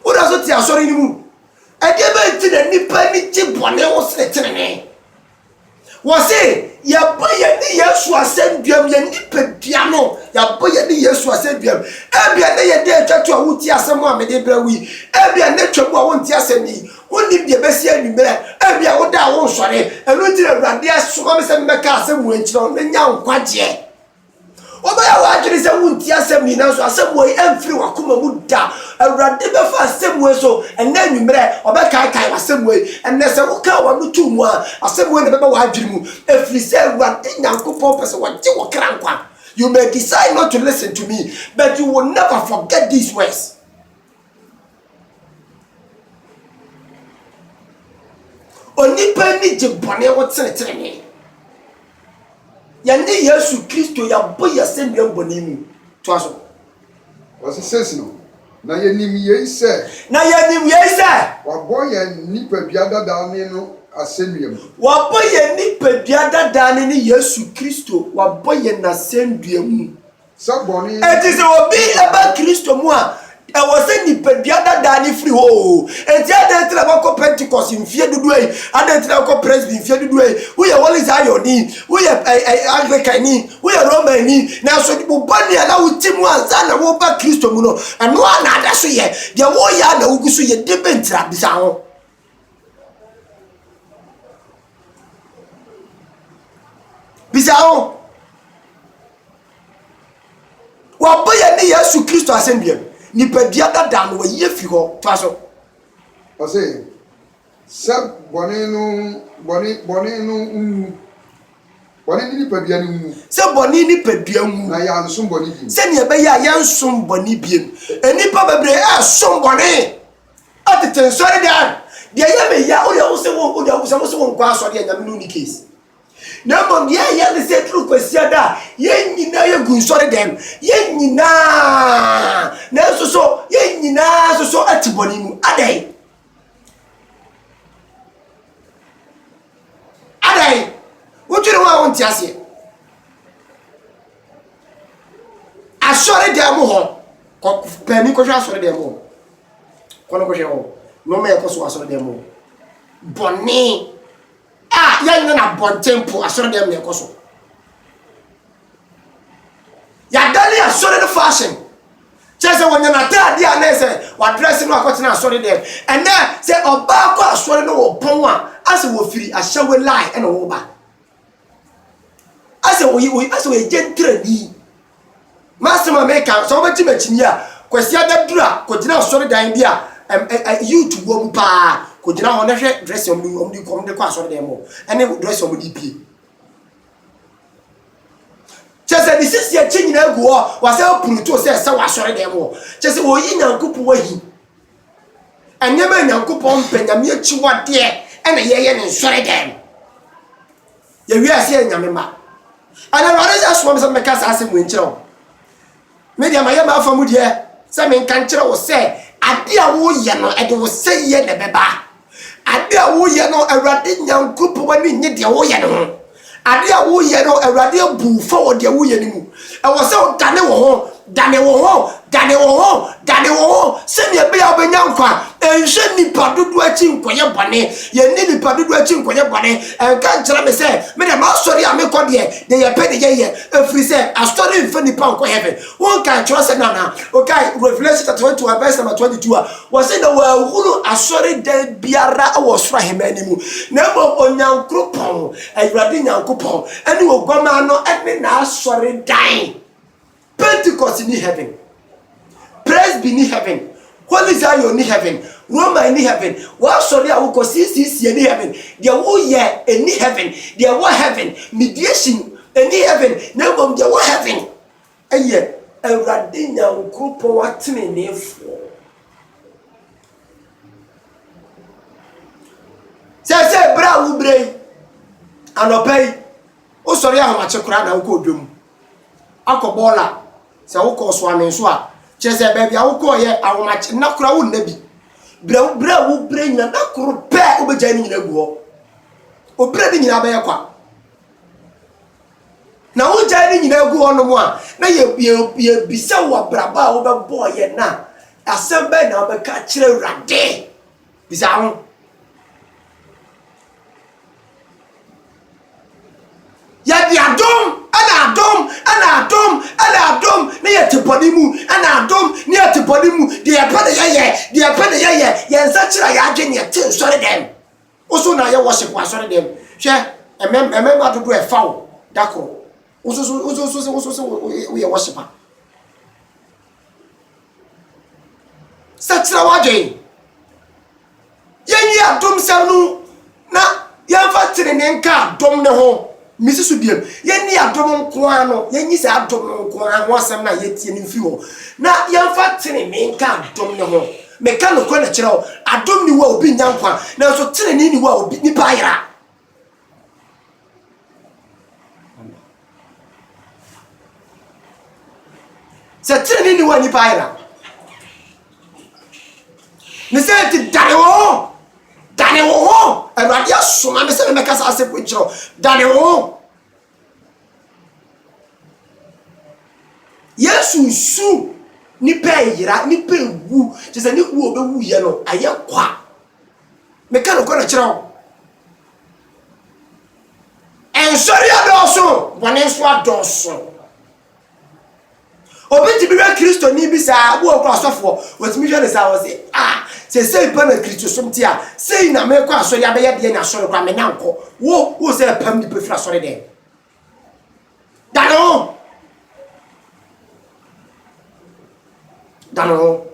Woda so te asɔre no mu? Ɛdeɛ bɛn nti na nnipa ani gye bɔne ho sene tenenee? Wɔse, yɛbɔ yɛne Yesu asɛnduam, yɛn nipadua no, yɛabɔ yɛne Yesu asɛnduam. Ebia na yɛn dɛ atwa to a wotie asɛm a mede brɛ wo yi. Ebia na atwa mu a wonte asɛm yi. Wonnim deɛ ɛbɛsi anwummerɛ, ebia wo da a wonsɔre, ɛno nti na Awurade asoma me sɛ memmɛka asɛm wei nkyerɛ wo, na nya nkwagyeɛ. Wobɛyɛ w'adwene sɛ wontie asɛm yi, nanso asɛm wei amfiri w'akoma mu da. Awurade bɛfa asɛm wei so ɛnnɛ anwummerɛ, ɔbɛkaekae w'asɛm wei. Ɛnnɛ sɛ wokaa w'ano too mu a, asɛm wei na ɛbɛba w'adwene mu, ɛfiri sɛ Awurade Nyankopɔn pɛ sɛ ɔgye wo kra nkwa. You may decide not to listen to me, but you will never forget these words. Onipa ani gye bɔne ho sene tenenee. Yɛne Yesu Kristo yɛabɔ yɛ asɛnnua bɔne mu. Toa so. Ɔse sesi no, na yɛnim yei sɛ. Na yɛnim yei sɛ. Wɔabɔ yɛn nipadua dadaa ne no asɛnnua mu. Wɔabɔ yɛn nipadua dadaa ne ne Yesu Kristo, wɔabɔ yɛn asɛnnua mu. Enti sɛ obi ba Kristo mu a, ɛwɔ sɛ nipadua dadaa no firi hɔ oo. Enti adɛn nti na woakɔ Pentecost mfeɛ dodoɔ yi? Adɛn nti na wokɔ Presby mfeɛ dodoɔ yi? Woyɛ Holy Zion ni, woyɛ Anglican ni, woyɛ Roman ni, nanso wo bɔne a na wote mu ansa na woreba Kristo mu no, ɛno ara na ada so yɛ. Deɛ woreyɛ ara na wogu so yɛ. Deɛ bɛn nti na? Bisa ho. bisa ho wɔbɔ yɛn ne yesu kristo asɛnnua mu nipadua dada no wɔyi afi hɔ toa so ɔse sɛ bɔne no bɔne bɔne no nwu bɔne ne nipadua no nwu sɛ bɔne nipadua nwu na yɛansom bɔne bi sɛnea ɛbɛyɛ a yɛnsom bɔne biem nnipa bebree ɛsom bɔne a tete nsɔre dan deɛ ɛyɛ me ya wode wo se wo wode wo sɛ wo se wo nkɔ asɔre deɛ nyame no ni case na mmom deɛ ɛyɛ ne sɛ duru kwasia da a yɛn nyinaa yɛgu nsɔre dan mu yɛn nyinaa nanso so yɛn nyinaa so so ati bɔne mu adɛn adɛn wodwene ho a wonte aseɛ Asɔredan mu hɔ. Kɔ panin kɔhwɛ asɔredan mu hɔ. Kɔ no kɔhwɛ hɔ. Nneɛma a ɛkɔ so wɔ asɔredan mu hɔ. Bɔne a yɛnyɛ no abɔnten po asɔredan mu na ɛkɔ so. Yɛadane asɔre no fashion. Kyerɛ sɛ wɔnya n'ataade a na sɛ wadrɛse no akɔtena asɔre dɛm. Ɛnɛ sɛ ɔbaa kɔ asɔre no wɔpɔn a asɛ wɔfiri ahyɛwe line ɛna wɔba. asɛ oyi oyi asɛ oye gyentere ni m'asɛm a meka sɛ wobɛgye m'akyinyi a kwasi adaduru a kɔgyina asɔredan bi a ɛm ɛ ɛ youth wɔ mu paa kɔgyina hɔ na hwɛ dress wɔn de wɔn de kɔ wɔn de kɔ asɔredan mu ɛne dress wɔn de pie kyɛ sɛ ne sisi akyi nyinaa gu hɔ wasɛ apuruto sɛ ɛsɛ wɔ asɔredan mu hɔ kyɛ sɛ wɔyi nyankopɔn ahi Nneɛma a Nyankopɔn mpɛ, Nyame akyiwadeɛ, ɛna yɛyɛ ne nsɔre dɛm. Yɛwie ase yɛ Nyame ma. Ɛna Awurade sɛ soa me sɛ mɛka saa asɛm wei nkyerɛ wo. Me deɛ mayɛ m'afa mu deɛ sɛ menka nkyerɛ wo sɛ adeɛ a woyɛ no ɛde wo sɛyɛ na ɛbɛba. Ade a woyɛ no, Awurade Nyankopɔn ani nnye deɛ woyɛ no ho. Ade a woyɛ no, Awurade abu wo fɔ wɔ deɛ woyɛ no mu. Ɛwɔ sɛ wodane wo ho, dane wo ho, dane wo ho, dane wo ho, sɛdeɛ ɛbɛyɛ a wobɛnya nkwa. Nhwɛ nnipa dodoɔ akyi nkɔyɛ bɔne. Yɛnni nnipa dodoɔ akyi nkɔyɛ bɔne. Ɛnka nkyerɛ me sɛ, me deɛ, m'asɔre a mekɔ deɛ, deɛ yɛpɛ ne yɛyɛ, ɛfiri sɛ, asɔre mfa nnipa nkɔ heaven. Wonkae kyerɛwsɛm no anaa? Wokae Revelation chapter 21 verse number 22 a wɔse na wɔahunu asɔredan biara wɔ soro ahemman no mu, na mmom Onyankopɔn, Awurade Nyankopɔn, ne Oguammaa no ne n'asɔredan. Pentecost ni heaven. Presby ni heaven. Holy Zion ni heaven. Roman ni heaven. W'asɔre a wokɔ CCC ni heaven. Deɛ woyɛ ni heaven. Deɛ wɔ heaven. Mediation ni heaven. Na mmom deɛ wɔ heaven. Yɛ Awurade Nyankopɔn ateneneefoɔ. Seesei berɛ a wobrɛ yi, anɔpa yi, wosɔre ahomakye koraa na wokɔɔ dwa mu akɔ bɔɔl a, sɛ wokɔɔ so amee so a, kyerɛ sɛ baabi a wokɔɔyɛ ahomakye nna koraa wonna bi. Berɛ berɛ a wobrɛ nyina, nna koro pɛ wobɛgyae ne nyina agu hɔ. Wobrɛ ne nyinaa bɛyɛ kwa. Na wogyae ne nyinaa gu hɔnom a, na yɛbisa wo abrabɔ a wobɛbɔɔ yɛn no a, asɛm bɛn na wobɛka akyerɛ Awurade? Bisa ho. Yɛde adom ɛna adom ɛna adom ɛna adom na yɛte bɔne mu ɛna adom na yɛte bɔne mu deɛ yɛpɛ na yɛyɛ deɛ yɛpɛ na yɛyɛ yɛn nsa kyerɛ yɛn adwene yɛte nsɔre dɛm. Wo so na yɛ worship wɔ asɔre dɛm. Hwɛ mmɛma dodoɔ a ɛfa wo da koro. Wo so so wo so so wo so so wo yɛ worship a. Sɛ kyerɛ w'adwen. Yɛn yi adom sɛm no na yɛn fa tene ne nka adom ne ho. Me susu biom, yɛnni adom nko ara no, yɛnyi saa adom no nko ara ho asɛm no a yɛretie no mfiri hɔ, na yɛmfa tenenee nka adom no ho. Meka nokorɛ no kyerɛ wo, adom nni hɔ a obi nnya nkwa, nanso tenenee nni hɔ a obi, nipa ayera. Sɛ tenenee nni hɔ a nipa ayera. ne sɛ nti dane wo ho dane wo ho awurade asoma me sɛ ne mɛka saa asɛmpo nkyerɛ dane wo ho yesu su nipa yera nipa wu kyɛ sɛ ne wu ɔbɛwu yɛ no ɛyɛ kwa meka no kɔ no kyerɛ wo nsɔre adɔɔso bɔne nso adɔɔso Obi tumi hwɛ Kristoni bi saa, ebi wɔ hɔ koraa ɔsɔfoɔ, otumi hwɛ no saa, ɔse, ah, seesei pa na Kristosom te a, sei na mekɔ asɔre abɛyɛ deɛ na asɔre koraa menya nkɔ. Wo, wo sɛ pam nipa firi asɔre dɛn? Dane ho. Dane ho.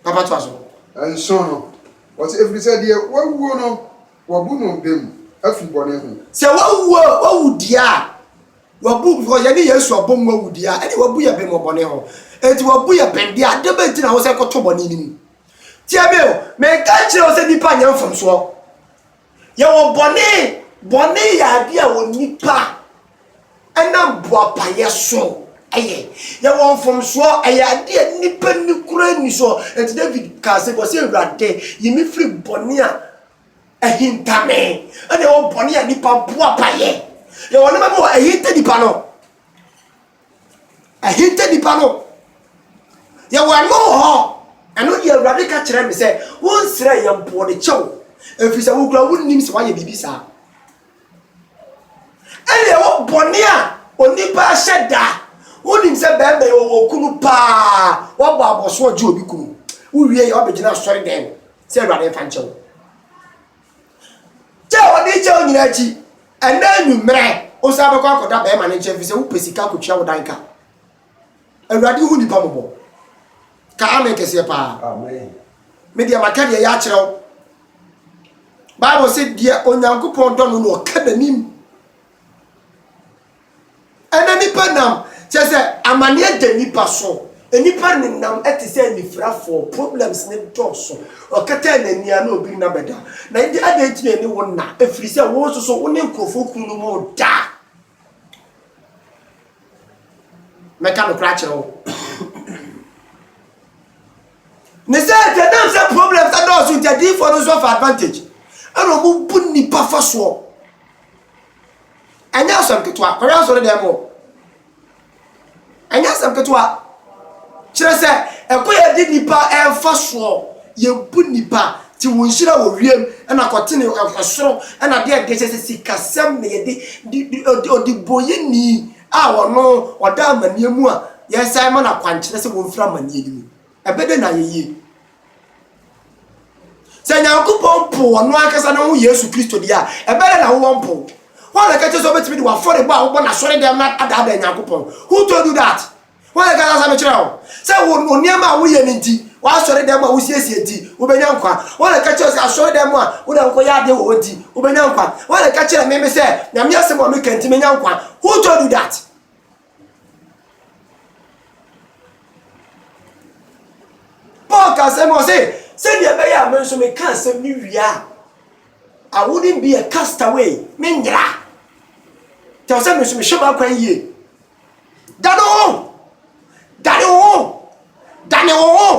Papa to aso. Nson no, ɔse, ɛfiri sɛ deɛ wawuo no, wɔabu no bem afiri bɔne ho. Sɛ wawuo, wawu deɛ a, Wabu because yɛne Yesu abom mu awu deɛ a, ɛne wabu yɛ bem wɔ bɔne ho. Enti wabu yɛ bem deɛ a, deɛ bɛn nti na wo sɛ kɔto bɔne no mu? Tie me o, menka nkyerɛ wo sɛ nnipa nyɛ mfomsoɔ. Yɛwɔ bɔne, bɔne yɛ adeɛ a onipa ɛnam boapayɛ so ɛyɛ. Yɛwɔ mfomsoɔ, ɛyɛ adeɛ a nnipa ni kura ni soɔ. Enti David kaa sɛ, bɔ sɛ Awurade, yi me firi bɔne a Ahintame na ɛwɔ bɔne a nipa boapa yɛ. Yɛwɔ nneɛma bi wɔ ahinta nipa no. Ahinta nipa no. Yɛwɔ ɛno wɔ hɔ. Ɛno deɛ Awurade ka kyerɛ me sɛ, wonsrɛ yɛn mpo, ɔde kyɛ wo. Ɛfiri sɛ wo koraa wonnim sɛ woayɛ biribi saa. Ɛnna ɛwɔ bɔne a onipa ahyɛ da. Wonim sɛ bɛrima yi ɔwɔ okunu paa, wabɔ abɔso ɔgye obi kunu. Wowie yɛ wabɛgyina asɔre dɛn mu sɛ Awurade mfa nkyɛ wo. Kyɛ a wɔde kyɛ wo nyinaa akyi, ɛnna anwummerɛ wo san bɛkɔ akɔda bɛrima no nkyɛn fi sɛ wopɛ sika akɔtua wo dan ka. awurade hu nipa mɔbɔ ka amen kɛseɛ paa me deɛ maka deɛ yɛ akyerɛ wo bible sɛ deɛ onyankopɔn dɔ no na ɔka n'anim ɛna nipa nam kyɛ sɛ amanneɛ da nipa so nipa nenam ɛte sɛ anifirafoɔ problems ne dɔɔso ɔkata n'ani a na obi nna bɛda na ɛde adɛn nti na ɛne wo nna ɛfiri sɛ wo nso so wo ne nkurɔfoɔ ku no mu daa Mɛka nokorɛ akyerɛ wo. ne sɛ sɛ nam sɛ problems adɔɔso nti adiyifoɔ no nso afa advantage ɛna ɔmo bu nnipa fa soɔ ɛnyɛ asɛm ketewa kɔhwɛ asɔre dɛm o ɛnyɛ asɛm ketewa Kyerɛ sɛ, ɛkwan a yɛde nnipa mfa soɔ, yɛbu nnipa, te wɔn nhyira wɔ wiem, ɛna kɔtene ɛsoro, ɛna adeɛ adeɛ kyerɛ sɛ sikasɛm na yɛde, de, de, ɔde, ɔdebɔyɛni a ɔno ɔda amaneɛ mu a, yɛsan ma no akwankyerɛ sɛ wɔmfiri amaneɛ no mu. Ɛbɛ dɛ na ayɛ yie? Sɛ Nyankopɔn pow ɔno ankasa ne ho Yesu Kristo deɛ a, ɛbɛyɛ na wowɔ mpo. Hwan na ɛka kyerɛ sɛ wobɛtumi de w'afɔrebɔ a wobɔ n'asɔredɛm no adaadaa Nyankopɔn? Who told you that? Hwan na ɛka saa asɛm kyerɛ wo? Sɛ wo nneɛma a woyɛ no nti, w'asɔredɛm a wosiesie nti, wobɛnya nkwa. Hwan na ɛka kyerɛ sɛ asɔredɛm a woda nkɔyɛ adeɛ wɔ hɔ nti, wobɛnya nkwa? Hwan na ɛka kyerɛ me me sɛ Nyame asɛm a meka nti menya nkwa? Who told you that? Paul ka sɛ, ɔse, sɛdeɛ ɛbɛyɛ a me nso meka asɛm no wie a, I wouldn't be a castaway, menyera. Kyerɛ sɛ me nso mehwɛ m'akwan yie. Dane wo ho! Dane wo ho! Dane wo ho!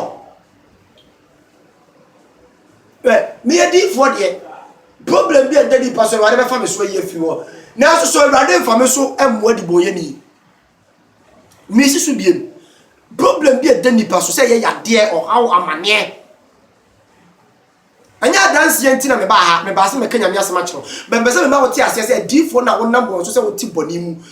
Hwɛ, meyɛ diyifoɔ deɛ, problem bi a ɛda nipa so Awurade bɛfa me so ayi afiri hɔ. Nanso so Awurade mfa me so mmoa dibɔnyɛni. Mesi so biem. Problem bi a ɛda nipa so sɛ ɛyɛ yadeɛ, ɔhaw, amaneɛ. Ɛnyɛ adanseɛ nti na mebaa ha, mebaa sɛ mɛka Nyame asɛm akyerɛ wo. Bɛmpɛ sɛ mema wote aseɛ sɛ adiyifoɔ no a wonam wɔn so sɛ wote bɔne mu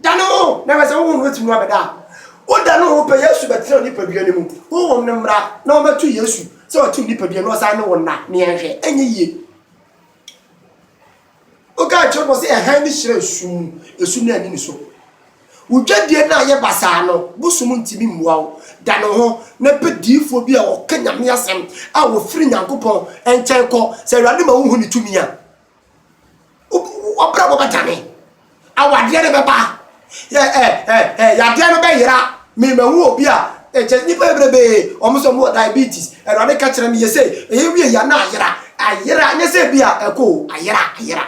Da ne ho na hwɛ sɛ honhom no betumi abɛda a. Woda ne ho pɛ, Yesu bɛtena wo nipadua no mu. Honhom no mmra na ɔmmɛto Yesu sɛ ɔte wo nipadua na ɔsan ne wo nna. Nea ɛnhwɛ ɛnyɛ yie. Woka nkyerɛ no sɛ ɛhan ne hyerɛn sum mu, esum no anni ne so. Wo dwadie no a ɛyɛ basaa no, bosom ntumi mmoa wo. Da ne ho na pɛ diifoɔ bi a ɔka Nyame asɛm a ɔfiri Nyankopɔn nkyɛn kɔ. Sɛ Awurade ma wohu ne tumi a. W'abrabɔ bɛdane. Awadeɛ no bɛba. Yɛ ɛ ɛ ɛ yadeɛ no bɛyera. Me mahu obi a ɛ kyɛ nipa bebrebe wɔn sɛ wɔn wɔ diabetes. Awurade ka kyerɛ me yɛ sɛ ɛyɛ wie yɛ na ayera ayera nyɛ sɛ bi a ɛkɔ o ayera ayera.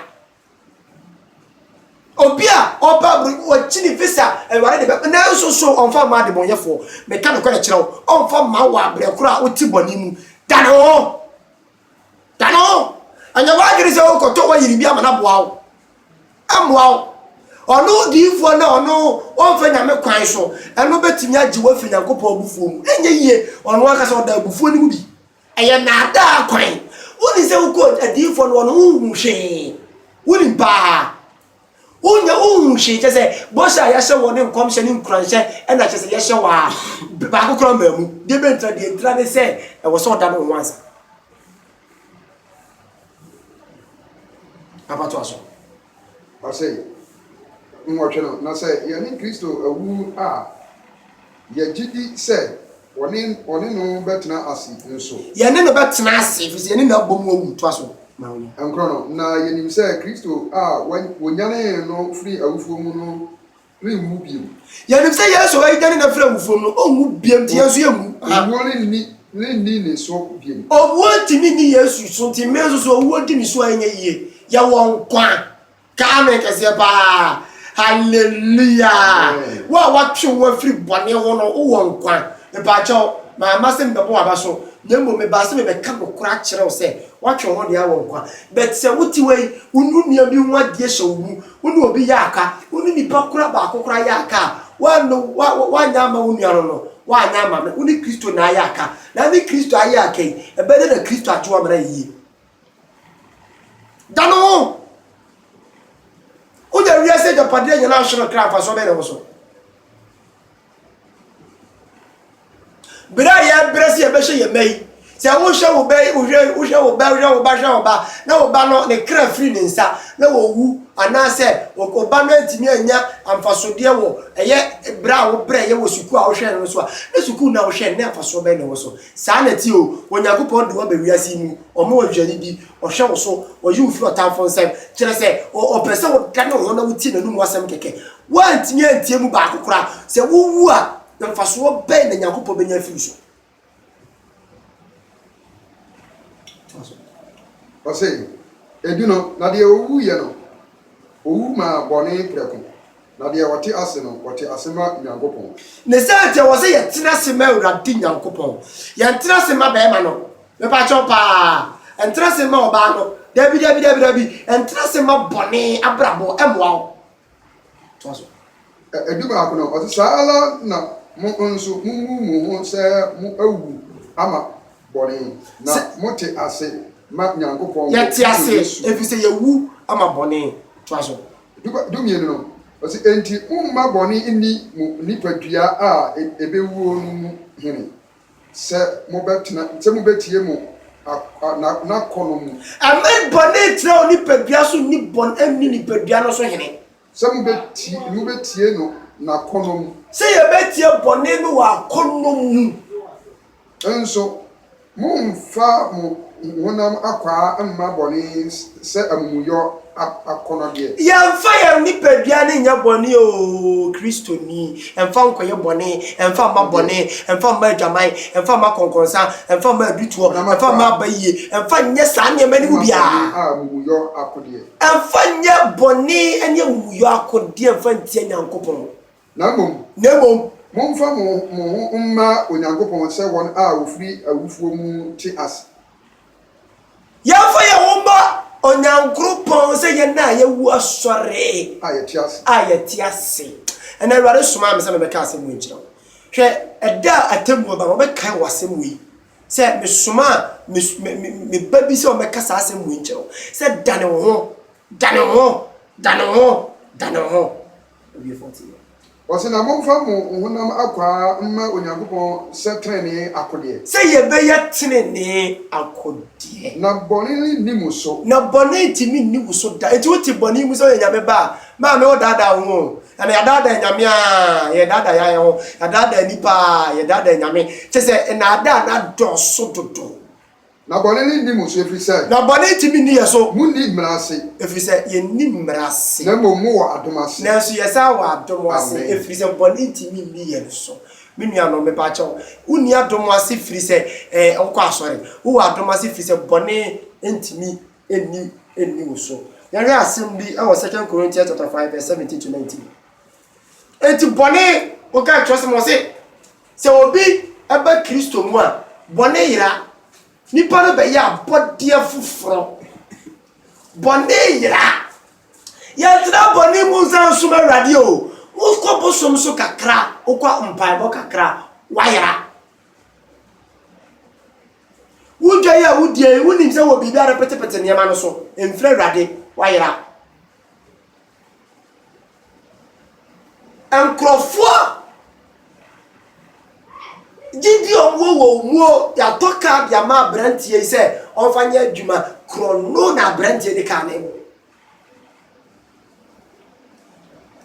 Obi a ɔba aburo wɔkyi ne visa Awurade de bɛ nanso so ɔnfa mma adebɔnyɛfoɔ. Meka no kɔrɛ kyerɛ wo ɔnfa mma wɔ abrɛ korɔ a wote bɔne mu. Dane wo ho. Dane wo ho. Ɛnyɛ w'adwene sɛ wokɔtɔ w'ayiri bi ama no aboa wo. Ɛmmoa wo. Ɔno odiyifoɔ no a ɔno ɔmfa Nyame kwan so, ɛno bɛtumi agye wo afiri Nyankopɔn abufuo mu. Ɛnyɛ yie, ɔno ankasa ɔda abufuo no mu bi. Ɛyɛ nnaadaa kwan. Wonim sɛ wokɔ adiyifoɔ no hɔ no, wonhu hwee. Wonim paa. Wonya wohu hwee kyɛ sɛ bɔhyɛ a yɛahyɛ wɔ ne nkɔmhyɛ ne nkuranhyɛ ɛna kyɛ sɛ yɛhyɛ wɔ a baako koraa mmaa mu. Deɛ bɛ ntira deɛ ntira ne sɛ ɛwɔ sɛ ɔda ne ho ansa. Papa to aso. Ɔsɛ nwɔtwe no na sɛ yɛne Kristo awu a. Yɛgye di sɛ wɔne wɔne no bɛtena ase nso. Yɛne no bɛtena ase, efisɛ yɛne no abɔ mu awu toa so ma no. Nkorɔ no, na yenim sɛ Kristo a wonyanee no firii awufoɔ mu no renwu bio. Yɛnim sɛ Yesu a wɔanyane no afiri awufoɔ mu no, ɔnwu bio, nti yɛn nso yɛnwu. Owuo renni renni ne so bio. Owuo ntumi nni Yesu so, nti me nso so, owuo di me so a, ɛnyɛ yie. Yɛwɔ nkwa. Kaa me kɛseɛ paa. Hallelujah. Amen. Wo a watwe wo afiri bɔne ho no, wowɔ nkwa. Mpakyɛw, mamma sɛ mebɛbɔ w'abaso, na mmom mebaa sɛ mebɛka nokorɛ akyerɛ wo sɛ, woatwe wo ho deɛ wɔ nkwa. But sɛ wote hɔ yi, wo ne onua bi ho adeɛ hyɛ wo mu, wo ne obi yɛ aka, wo ne nipa koro a baako koraa yɛ aka a, woanno, wo, wo, woanyɛ ama wo nua no no, woanyɛ ama me, wo ne Kristo na ayɛ aka. Na ne Kristo ayɛ aka yi, ɛbɛyɛ dɛ na Kristo agye wo ama no ayɛ yie. Da no ho. Wonya wiase agyapadeɛ nyɛ no ahye no kra mfasoɔ bɛyɛ na wo so. Berɛ a yɛbrɛ sɛ yɛbɛhyɛ yɛn mma yi sɛ wohwɛ wo bɛ wohwɛ wohwɛ wo bɛ wohwɛ wo ba hwɛ wo ba na wo ba no ne kra firi ne nsa na wɔwu anaasɛ wo ba no antumi anya amfasodeɛ wɔ ɛyɛ berɛ a wobrɛ yɛ wɔ sukuu a wohwɛ no so a na sukuu no a wohwɛ no na amfasoɔ bɛyɛ na wɔ so Saa na ɛteɛ o, Onyankopɔn de wo aba wiase yi mu, ɔma wo aduane di, ɔhwɛ wo so, ɔyi wo firi ɔtamfo nsam, kyerɛ sɛ, ɔ, ɔpɛ sɛ wodane wo ho na wotie n'anom asɛm kɛkɛ. Woantumi antie emu baako koraa. Sɛ wuwu a, mfasoɔ bɛn na Onyankopɔn bɛnya afiri wo so? Toa so. Ɔse, Edu no, na deɛ ɔwuiɛ no, ɔwu maa bɔne prɛko, Na deɛ wɔte ase no, wɔte ase ma Nyankopɔn. Ne sɛ nti ɛwɔ sɛ yɛtena ase ma Awurade Nyankopɔn. Yɛntena ase mma bɛɛma no. Mepakyɛw paa, ɛntena ase mma ɔbaa no. Dabi, dabi, dabi, dabi. Ɛntena ase mma bɔne abrabɔ. Ɛmmoa wo. Toa so. Ɛ, ɛdu baako no, ɔse, Saa ara na mo nso mommu mo ho sɛ mo awu ama bɔne, na Sɛ. mote ase ma Nyankopɔn wɔ Yɛte Kristo ase, Yesu. efisɛ yɛawu ama bɔne. Toa so. Duba, Dumienu no, ɔse, Enti momma bɔne nni mo nipadua a ebewuo no mu hene, sɛ mobɛtena, sɛ mobɛtie mo a, na, n'akɔnnɔ mu. Mma bɔne ntra wo nipadua so nni bɔn nni nipadua no so hene. Sɛ mobɛtie, mobɛtie no n'akɔnnɔ mu. Sɛ yɛbɛtie bɔne no wɔ akɔnnɔ mu. Nso, mommfa mo honam akwaa mma bɔne sɛ amumuyɔ akɔnnɔdeɛ. Yɛmfa yɛn nipadua no nyɛ bɔne o, Kristoni, mfa nkɔyɛ bɔne, mfa mma bɔne, mfa mma adwaman, mfa mma akɔnkɔnsa, mfa mma adutoɔ, mfa mma abayie, mfa nyɛ saa nneɛma no mu biara. Mma bɔne a amumuyɔ akodeɛ. Mfa nyɛ bɔne ne amumuyɔ akodeɛ mfa ntia Nyankopɔn. na mmom. Na mmom, momfa mo ho mo ho mma Onyankopɔn sɛ wɔn a wɔfiri awufoɔ mu te ase. Yɛmfa yɛn ho mma Onyankropɔn sɛ yɛn a yɛawu asɔre. A yɛte ase. A yɛte ase. Ɛnnɛ Awurade somaa me sɛ memmɛka asɛm wei nkyerɛ wo. Hwɛ, ɛda a atemmuo ba no, wɔbɛkae wo asɛm wei, sɛ mesomaa me, me, me, me ba bi sɛ ɔmmɛka saa asɛm wei nkyerɛ wo, sɛ dane wo ho, dane wo ho, dane wo ho, dane wo ho. Awiefo te yɛ. Ɔse na momfa mo honam akwaa mma Onyankopɔn sɛ trenee akodeɛ. Sɛ yɛbɛyɛ trenee akodeɛ. Na bɔne renni mo so. Na bɔne rentumi nni wo so da. Enti wote bɔne mu sɛ woyɛ Nyame ba a, maame wodaadaa wo ho o. Na na yɛadaadaa Nyame a, yɛredaadaa yɛn ho. Yɛadaadaa nnipa a, yɛredaadaa Nyame. Kyerɛ sɛ nnaadaa no adɔɔso dodo. Na bɔne no nni mo so, ɛfiri sɛ. Na bɔne ntumi nni yɛn so. Monni mmara ase. Ɛfiri sɛ yɛnni mmara ase. Na mmom mowɔ adom ase. Nanso yɛsan wɔ adom ase. Amen. Ɛfiri sɛ bɔne ntumi nni yɛn so. Me nuanom, mepa kyɛw, wonni adom ase firi sɛ eh, wokɔ asɔre. Wowɔ adom ase firi sɛ bɔne ntumi nni nni wo so. Yɛnhwɛ asɛm bi wɔ Second Corinthians chapter 5 verse 17 to 19. Enti bɔne, wokan Kyerɛwsɛm a ɔse, sɛ obi ba Kristo mu a, bɔne yera. Nipa no bɛyɛ abɔdeɛ foforɔ. Bɔne yera. Yɛntena bɔne mu nsa nsom Awurade o. Wokɔ bosom so kakra, wokɔ mpaebɔ kakra, woayera. Wodwa yi a wodie yi, wonim sɛ wɔ biribi a repetepete nneɛma no so, mfiri Awurade, woayera. nkurɔfoɔ gyidie a wɔwɔ wɔ wɔn muo yɛatɔ kaa de ama aberanteɛ yi sɛ ɔmfa nyɛ adwuma korɔ no na aberanteɛ de kaa ne mu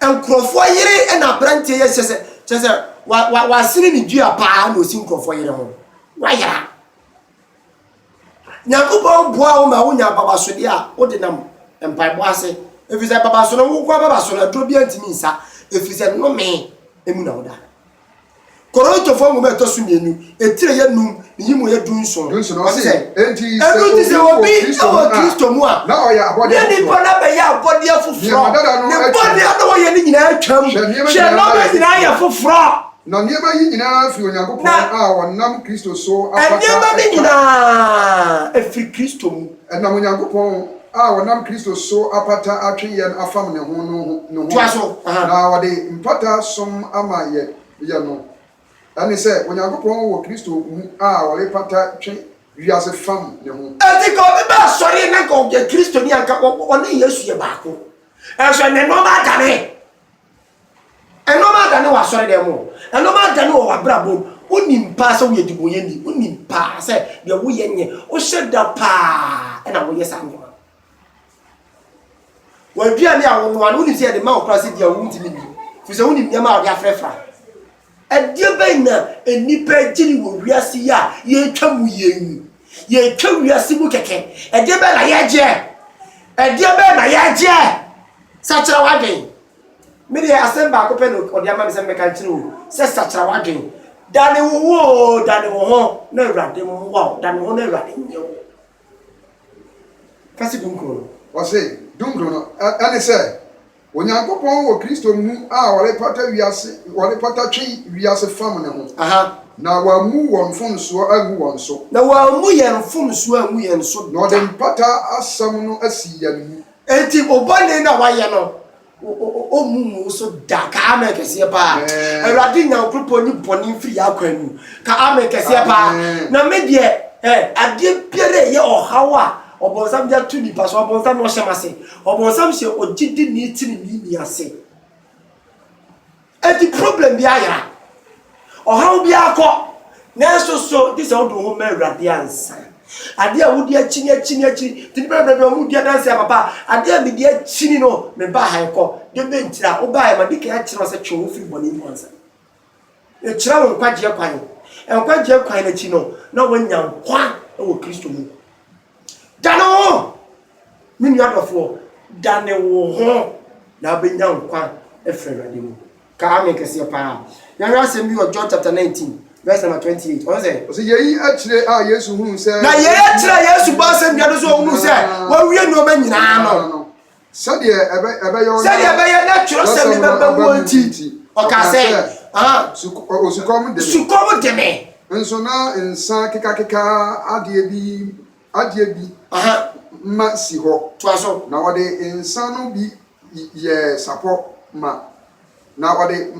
nkurɔfoɔ yere na aberanteɛ yɛ kyɛ sɛ kyɛ sɛ wasene ne dua paa na ɔsi nkurɔfoɔ yere ho wayera Nyankopɔn boa wo ma wonya ababasodeɛ a wode nam mpaebɔ ase, ɛfiri sɛ ababaso no nwokoa ababaso no aduro biara ntumi nsa, ɛfiri sɛ nnome mu na woda. Korintofoɔ nwoma ɛtɔ so mmienu, etire yɛ num, ne yimu yɛ du nson. Ɔsi sɛ, enti sɛ obi wɔ Kristo mu a, na nipa no abɛyɛ abɔdeɛ foforɔ, ne bɔne a na wɔyɛ no nyinaa atwam, hwɛ nneɛma nyinaa yɛ foforɔ. Na nneɛma yi nyinaa firi Onyankopɔn a ɔnam Kristo so apata nnipa. Na nneɛma no nyinaa firi Kristo mu. Ɛnam Onyankopɔn a ɔnam Kristo so apata atwe yɛn afam ne ho no ho, na ɔde mpata som ama yɛn. Yɛ no. Ɛne sɛ, Onyankopɔn wɔ Kristo mu a ɔrepata twe wiase fam ne ho. Enti nka obi ba asɔre na nka ɔyɛ Kristoni a, nka ɔne Yesu yɛ baako. Nanso ɛnnɛ nneɛma adane. Nnoɔma adane wɔ asɔredɛm mu o, nnoɔma adane wɔ w'abrabɔ mu, wonim paa sɛ woyɛ debɔnyɛni, wonim paa sɛ deɛ woyɛ nyɛ, wohyɛ da paa na woyɛ saa nnoɔma no. W'aduane a wonoa no, wonim sɛ yɛde ma wo koraa sɛ di a wontumi nni, firi sɛ wonim nneɛma a wode afrɛfra. Ɛdeɛ bɛn na nnipa agyiri wɔ wiase yi a yɛretwa mu yie yi? Yɛretwa wiase mu kɛkɛ. Ɛdeɛ bɛn na yɛregyeɛ? Ɛdeɛ bɛn na yɛregyeɛ? Sakyera w'adwene. Me deɛ asɛm baako pɛ na ɔde ama me sɛ mɛka nkyerɛ wo sɛ sakyera w'adwen dane wo ho oo dane wo ho na awurade mmoa wo dane wo ho na awurade nyɛ wo kase dunkron no. Ɔse dunkron no ɛne sɛ Onyankopɔn wɔ Kristo mu a ɔrepata wiase ɔrepata twe wiase fam ne ho Aha. na wammu wɔn mfomsoɔ angu wɔn so. Na wammu yɛn mfomsoɔ angu yɛn so da. Na ɔde mpata asɛm no asi yɛn mu. Enti wo bɔne no a woayɛ no, ɔmmu ngu wo so da. Ka amen kɛseɛ paa. Awurade Nyankopɔn nyi bɔne mfiri yɛn akwan mu. Ka amen kɛseɛ paa. Na me deɛ, adeɛ biara a ɛyɛ ɔhaw a ɔbonsam de ato nipa so, ɔbonsam ɔhyɛ m'ase. Ɔbonsam hyɛ ogyidini teneneeni ase. Enti problem biara yera, ɔhaw biara kɔ, nanso so gye sɛ wode wo ho ma Awurade ansa. Adeɛ a wodi akyi ne akyi ne akyi, nti nnipa bebree de wɔn ho di adanse a, papa, adeɛ a medi akyi ni no, mebaa ha ɛkɔ, deɛ bɛn nti a wobaeɛ, madi kan akyerɛ wo sɛ twe wo ho firi bɔne mu ansa. Mekyerɛ wo nkwagyeɛ kwan, nkwagyeɛ kwan no akyi no, na woanya nkwa wɔ Kristo mu. Dane wo ho! Me nua dɔfoɔ, dane wo ho na wobɛnya nkwa afiri Awurade mu. Ka amen kɛseɛ paa. Yɛnhwɛ asɛm bi wɔ John chapter 19 verse number 28. Ɔno sɛ. Ɔsɛ yei akyire a Yesu hunu sɛ. Na yei akyire a Yesu bɔ asɛnnua no so ɔhunu sɛ wɔawie nneɛma nyinaa no. Sɛdeɛ ɛbɛyɛ na Sɛdeɛ ɛbɛyɛ na twerɛsɛm no bɛba mu nti, ɔkaa sɛ, ah, Osukɔm de me. Sukɔm de me. Nso na nsa kekakeka adeɛ bi adeɛ bi Aha. ma si hɔ, Toa so. na wɔde nsa no bi y- yɛɛ sapɔ ma Na ɔde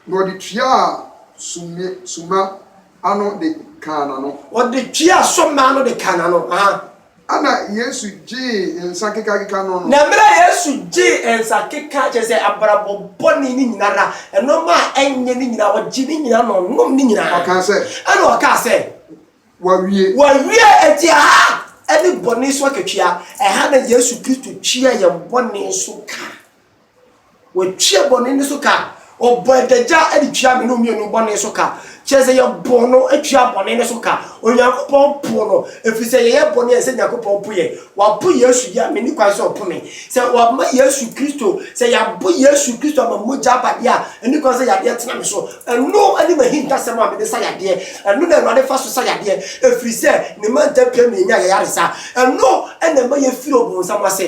na ɔde tuaa sumne summa ano de kaa n'ano. Ɔde tuaa summa ano de kaa n'ano. Aha. Ɛna Yesu gyee nsa kekakeka no no. Na mmerɛ a Yesu gyee nsa keka, kyerɛ sɛ abrabɔ bɔne no nyina ara, nnoɔma a ɛnyɛ no nyina ara, ɔgyee ne nyina na ɔnom ne nyina ara. Ɔkaa sɛ. Ɛna ɔkaa sɛ. Wɔawie. Wɔawie! Enti aha ɛne bɔne so akatua. Ɛha na Yesu Kristo tuaa yɛn bɔne so ka. Wɔtua bɔne no so ka. Ɔbɔ adagya de tua me ne wo mmienu bɔne so ka. Kyerɛ sɛ yɛbɔ no tua bɔne no so ka. Onyankopɔn po no ɛfiri sɛ yɛyɛ bɔne a ɛsɛ Nyankopɔn po yɛn. Wapo Yesu deɛ a menni kwan sɛ ɔpo me. Sɛ wama Yesu Kristo, sɛ yɛabɔ Yesu Kristo ama mogya aba deɛ a, ɛnni kwan sɛ yadeɛ tena me so. Ɛno ne m'ahintasɛm a mede sa yadeɛ. Ɛno na Awurade fa so sa yadeɛ ɛfiri sɛ ne mantam pira mmiɛnya yayaresa. Ɛno na ɛma yɛfiri ɔbonsam ase.